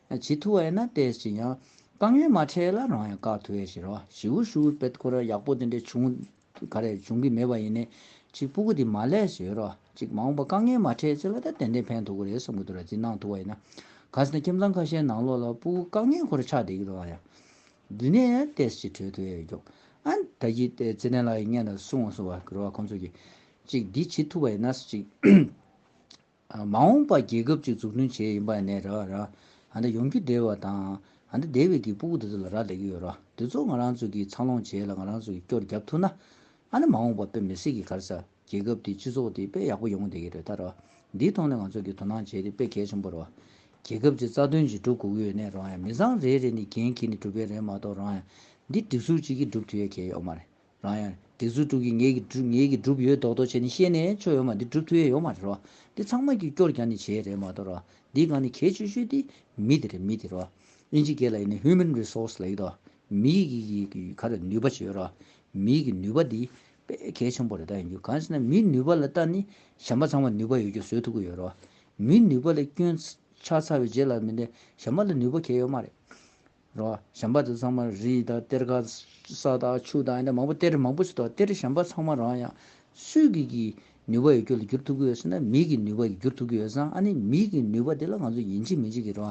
བྱེད་ཐུ་བ་ཡིན་ན་དེ་ཅི་ཡང་དཀའ་ངལ་མ་འཕྲད་ལ་རང་ཡང་དཀའ་ཐུ་བའི་ཕྱིར་རོ། བྱིའུ་ཤུ་བུའི་དཔེ་ཁོ་ར་ཡག་པོ་དེ་འདྲའི་བྱུང། ག་རེ་འབྱུང་གི་མེད་པ་ཡིན་ནི། གཅིག་སྤུ་གུ་དེ་མ་ལས་ཞེས་རོ། གཅིག་མ་འོངས་པ་དཀའ་ངལ་མ་འཕྲད་ཚེ་ལ་ད་ཏན་ཏན་ཕན་ཐུ་གི་རེད་བསམ་གི་འདུག་ར་བཟི་གནང་ཐུ་བ་ཡིན་ན། ག་ཟེ་ན་ཁྱིམ་ཚང་ཁ་ཤས་ནང་ལོག་ལ་སྤུ་གུ་དཀའ་ངལ་ཁོ་ར་ཆགས་བསྡད་ཀི་འདུག་ཨ་ཡ། དུས་ནས་ཡང་ཏེ་ཅི་འཕྲོད་ཐུ་ཨེ་ཀྱོ། ཨ། ད་གི་ཏེ་ཙི་ཏན་ལགས་ཡི་བརྙན་ལ་སུ་འོང་སུ་བ་གི་རོ་བ་ཁོང་ཚོ་གི། གཅིག་འདི་བྱེད་ཐུ་བ་ཡིན་ན་ཅིག། མ་འོངས་པ་རྒྱལ་ཁབ་ཅིག་འཛུགས་སྐྲུན་བྱེད་ཡིན་པ་ནས་ར་ར། ཨ་འདི་ཡོང་རྒྱུ་བདེ་བ་དང། ཨ་འདི་བདེ་བའི་གི་སྤུ་གུ་དེ་ཚོ་ལ་ར་ལས་ཀྱི་ཡོད་ར་དེ་ཚོ་ང་རང་ཚོ་གིས་འཚར་ལོངས་བྱས་ལ་ང་རང་ཚོ་གིས་སྐྱོར་རྒྱབ་ཐུབ་ན། ཨ་ནི་མ་འོངས་པ་དཔེ་མི་སྲིད་གི་གར་ས་རྒྱལ་ཁབ་དེ་སྤྱི་ཚོགས་དེ་དཔེ་ཡག་པོ་ཡོང་བདེ་གི་རེད་ད་ར་འདིའི་ཐོག་ནས་ང་ཚོ་གིས་དོ་སྣང་བྱས་དེ་དཔེ་གལ་ཆེན་པོ་ར། རྒྱལ་ཁབ་ཅིག་རྩ་དོན་ཅིག་སྒྲུབ་དགོས་གི་ཡོད་ནས་རང་ཡང་མི་ཚང་རེ་རེ་ནས་འགན་ཁྱེར་ནས་སྒྲུབ་པའི་རེད་མ་གཏོགས་རང་ཡང་འདི་སྒྲིག་སྲོལ་ཅིག་གིས་སྒྲུབ་ཐུབ་ཡས་གལ་ཡོག་མ་རེད་རང་ཡང། དེ་ཚུར་དཀྲུགས་ཀྱིས་ངེད་ཀྱི། ངེད་ཀྱི་སྒྲུབ་ཡོད་མདོག་མདོག་བྱས་ནས་ཤེས་ནས་ཆོ་ཡོད་མ་འདི་སྒྲུབ་ཐུ་ཡས་ཡོད་མ་རེད་རོ། འདི་ཚང་མ་ཀྱིས་སྐྱོར་རྒྱག་ནས་བྱས་རེད་མ་གཏོགས་རོ། འདི་གང་ནས་གས་ཆོས་ཆོས་འདི། མི་དེ་རེད་མི་དེ་རོ། ཨིན་ཇི་སྐད་ལ་ཡིན་ནི Human Resource ལ་ཡོད་དོ། མི་ཡིག་ཡིག་ཡིག་གི་ག་རེ་ནུས་པ་བྱས་ཡོད་རོ། མི་ཡིག་གི་ནུས་པ་འདི། དཔེ་གལ་ཆེན་པོ་རེ་ད་ཡིན་རྒྱུ་གང་ཞེ་ན་མིའི་ནུས་པ་ལ་ལྟ་ནི་གཞན་པ་ཚང་མ་ནུས་པ་ཡོད་རྒྱུ་བཟོས་ཐུབ་ཀྱི་ཡོད་རོ། མིའི་ནུས་པ་ལས་སྐྱོན། ཆགས་ཚར་བའི་རྗེས་ལ་མི་འདི་གཞན་པ་ལ་ནུས་པ་གས་ཡོད་མ་རེད། རོ། བྱམས་པ་དེ་ཚང་མ་རིས་དང་གཏེར་ཁ། ས་དང་ཆུ་དང་ཡང་མང་པོ་གཏེར་མང་པོ་ཞིག་དང་གཏེར་བྱམས་པ་ཚང་མ་རང་ཡང། སུས་ཀྱི་ཀྱི་ནུས་པ་ཡོད་རྒྱུ་ལ་བསྒྱུར་ཐུབ་ཀྱི་ཡོད་སྲིད་ན་མིའི་ཀྱི་ནུས་པ་ཡོད་བསྒྱུར་ཐུབ་ཀྱི་ཡོད་སང་ཨ་ནི་མིའི་ཀྱི་ནུས་པ་དེ་ལ་ང་ཚོ་ཡིན་གྱི་མིན་གྱི་ཀྱི་རོ།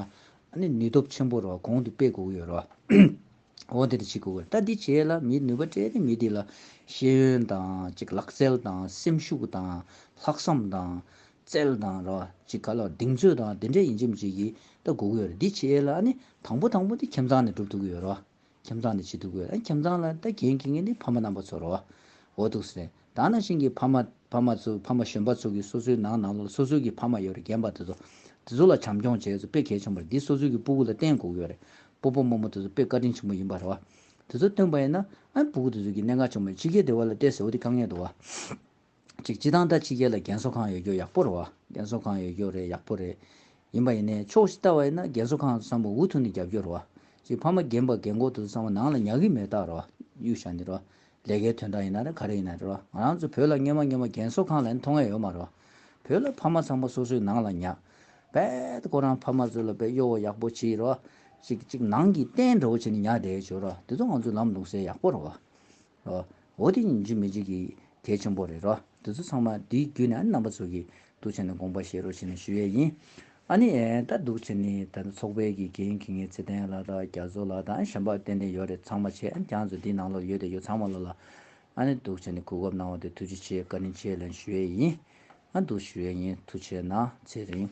ཨ་ནི་ནུས་སྟོབས་ཆེན་པོ་རོ་གོང་དུ་སྤེལ་དགོས་ཀྱི་ཡོད་རོ། འོ་དེ་དེ་བྱེད་དགོས་ཀྱི་ད་འདི་བྱས་ལ་མིའི་ནུས་པ་སྤྲད་ནས་མི་དེ་ལ། ཤེས་ཡོན་དང་གཅིག་ལག་རྩལ་དང་སེམས་ཤུགས་དང། ལྷག་བསམ་དང། རྩལ་དང་རོ། གཅིག་ག་ལ་གདེང་ཚོད་དང་དེ་འདྲས་ཡིན་གྱི་མི་གྱི་ཀྱི་ད་དགོས་ཀྱི་ཡོད་རེད་འདི་བྱས་ལ་ཨ་ནི་དང་པོ་དང་པོ་འདི་ཁྱིམ་ཚང་ནས་སྒྲུབ་ཐུབ་ཀྱི་ཡོད་རོ། ཁྱིམ་ཚང་ནས་བྱེད་ཐུབ་ཀྱི་ཡོད། ཁྱིམ་ཚང་ལ་ད་གྱེན་གྱི་ངེས་ནི་ཕ་མ་རྣམ་པ་ཚོ་རོ། འོ་ཐུག་སེ། ད་ན་ཤིང་གི་ཕ་མ། ཕ་མ་ཚོ་ཕ་མ་གཞོན་པ་ཚོ་གི་སོ་སོའི་ནང་ནང་ལོགས་ལ་སོ་སོའི་གི་ཕ་མ་ཡོད་རེད་རྒན་པ་དེ་ཚོ། དེ་ཚོ་ལ་བྱམས་སྐྱོང་བྱས་ཚོ་དཔེ་གལ་ཆེན་པོ་རེད་འདི་སོ་སོའི་གི་སྤུ་གུ་ལ་བརྟེན་དགོས་ཀྱི་ཡོད་རེད། སྤོ་སྤོ་རྨོ་རྨོ་དེ་ཚོ་དཔེ་བཀའ་དྲིན་ཆེན་པོ་ཡིན་པ་རེད་བ། དེ་ཚོ་སྟོན་པ་ཡིན་ན། ཨ་སྤུ་གུ་དེ་ཚོ་གི་གནད་འགག་ཆེན་པོ་ཡིན་ཕྱི་རྒྱལ་སྡེ་བ་ལ་བལྟས་ཟེར་བ་འདི་དཀའ་ངལ་འདུག་བ། གཅིག་སྤྱི་དང་ད་ཕྱི་རྒྱལ་ལ་རྒན་གསོ་ཁང་ཡོད་རྒྱུ་ཡག་པོ་རེད་བ། རྒན་གསོ་ཁང་ཡོད་རྒྱུ་རེད་ཡག་པོ་རེད། ཡིན་པ་ཡིན་ནའི་ཕྱོགས་བཞི་ལྟ་བ་ཡིན་ན་རྒན་གསོ་ཁང་བསམ་བོ་འུ་ཐུག་ནས་རྒྱབ་རྒྱུ་རེད་བ། གཅིག་ཕ་མ་རྒན་པ་རྒན་འཁོག་ཐུག་བསམ་བོ་ནང་ལ་ཉག་གི་མེད་རྟགས་རེད་བ། གཡུག་བཞག་འདི་རེད་བ། ལས་ཀའི་དོན་དག་ཡིན་ན་རེད་ག་རེ་ཡིན་ན་རེད་བ། ང་རང་ཚོ་བོད་ལ་སྔན་མ་སྔན་མ་རྒན་གསོ་ཁང་ལ་ཡང་མཐོང་ངེས་ཡོད་མ་རེད་བ། བོད་ལ་ཕ་མ་ཚང་མ་སོ་སོའི་ནང་ལ་ཉག། རྦད། ཁོ་རང་ཕ་མ་ཚོ་ལ་བེད་གཡོ་བོ་ཡག་པོ་བྱེད་ཡི་རེད་བ། གཅིག་གཅིག་ནང་གི་རྟེན་འདྲ་བོ་བྱེད་ནས་ཉག་བསྡད་བྱོས་རེད་བ། དེ་ཚོ་ང་ཚོའི་ལམ་ལུགས་ཟེར་ཡག་པོ་རེད་བ། འོ་དེ་ཉིད་འཇིག་མི་འཇིག་གི་གལ་ཆེན་པོ་རེད་རོ། དེ་ཚོ་ཚང་མ་དེའི་རྒྱུད་ནས་རྣམ་པ་ཚོ་གི་འདུ་བྱེད་ནས་དགོངས་པ་བཞེས་རོགས་ཞེས་ནས་ཞུ་ཡས་ཡིན། ཨ་ནི། ད་འདུ་བྱེད་ནི་ད་ལྟ་ཚོགས་པའི་གི་འགན་འཁི་ངའི་ཚེ་བརྟན་ལགས་དང་རྒྱ་མཚོ་ལགས་དང་ཞབས་འབག་ཏན་ཏན་ཡོད་རེད་ཚང་མ་བྱས་ཨ་ནི་གྱང་ཚོ་འདིའི་ནང་ལོག་ཡོད་དེ་ཡོ་ཚང་མ་ལོག་ལ། ཨ་ནི་འདུ་བྱེད་ནི་གོ་སྐབས་གནང་བ་དེ་ཐུགས་རྗེ་ཆེ་བཀའ་དྲིན་ཆེ་ལན་ཞུ་ཡས་ཡིན། ཨ་འདུ་ཞུ་ཡས་ཡིན་ཐུགས་ཆེ་ན་ཚེ་རིང།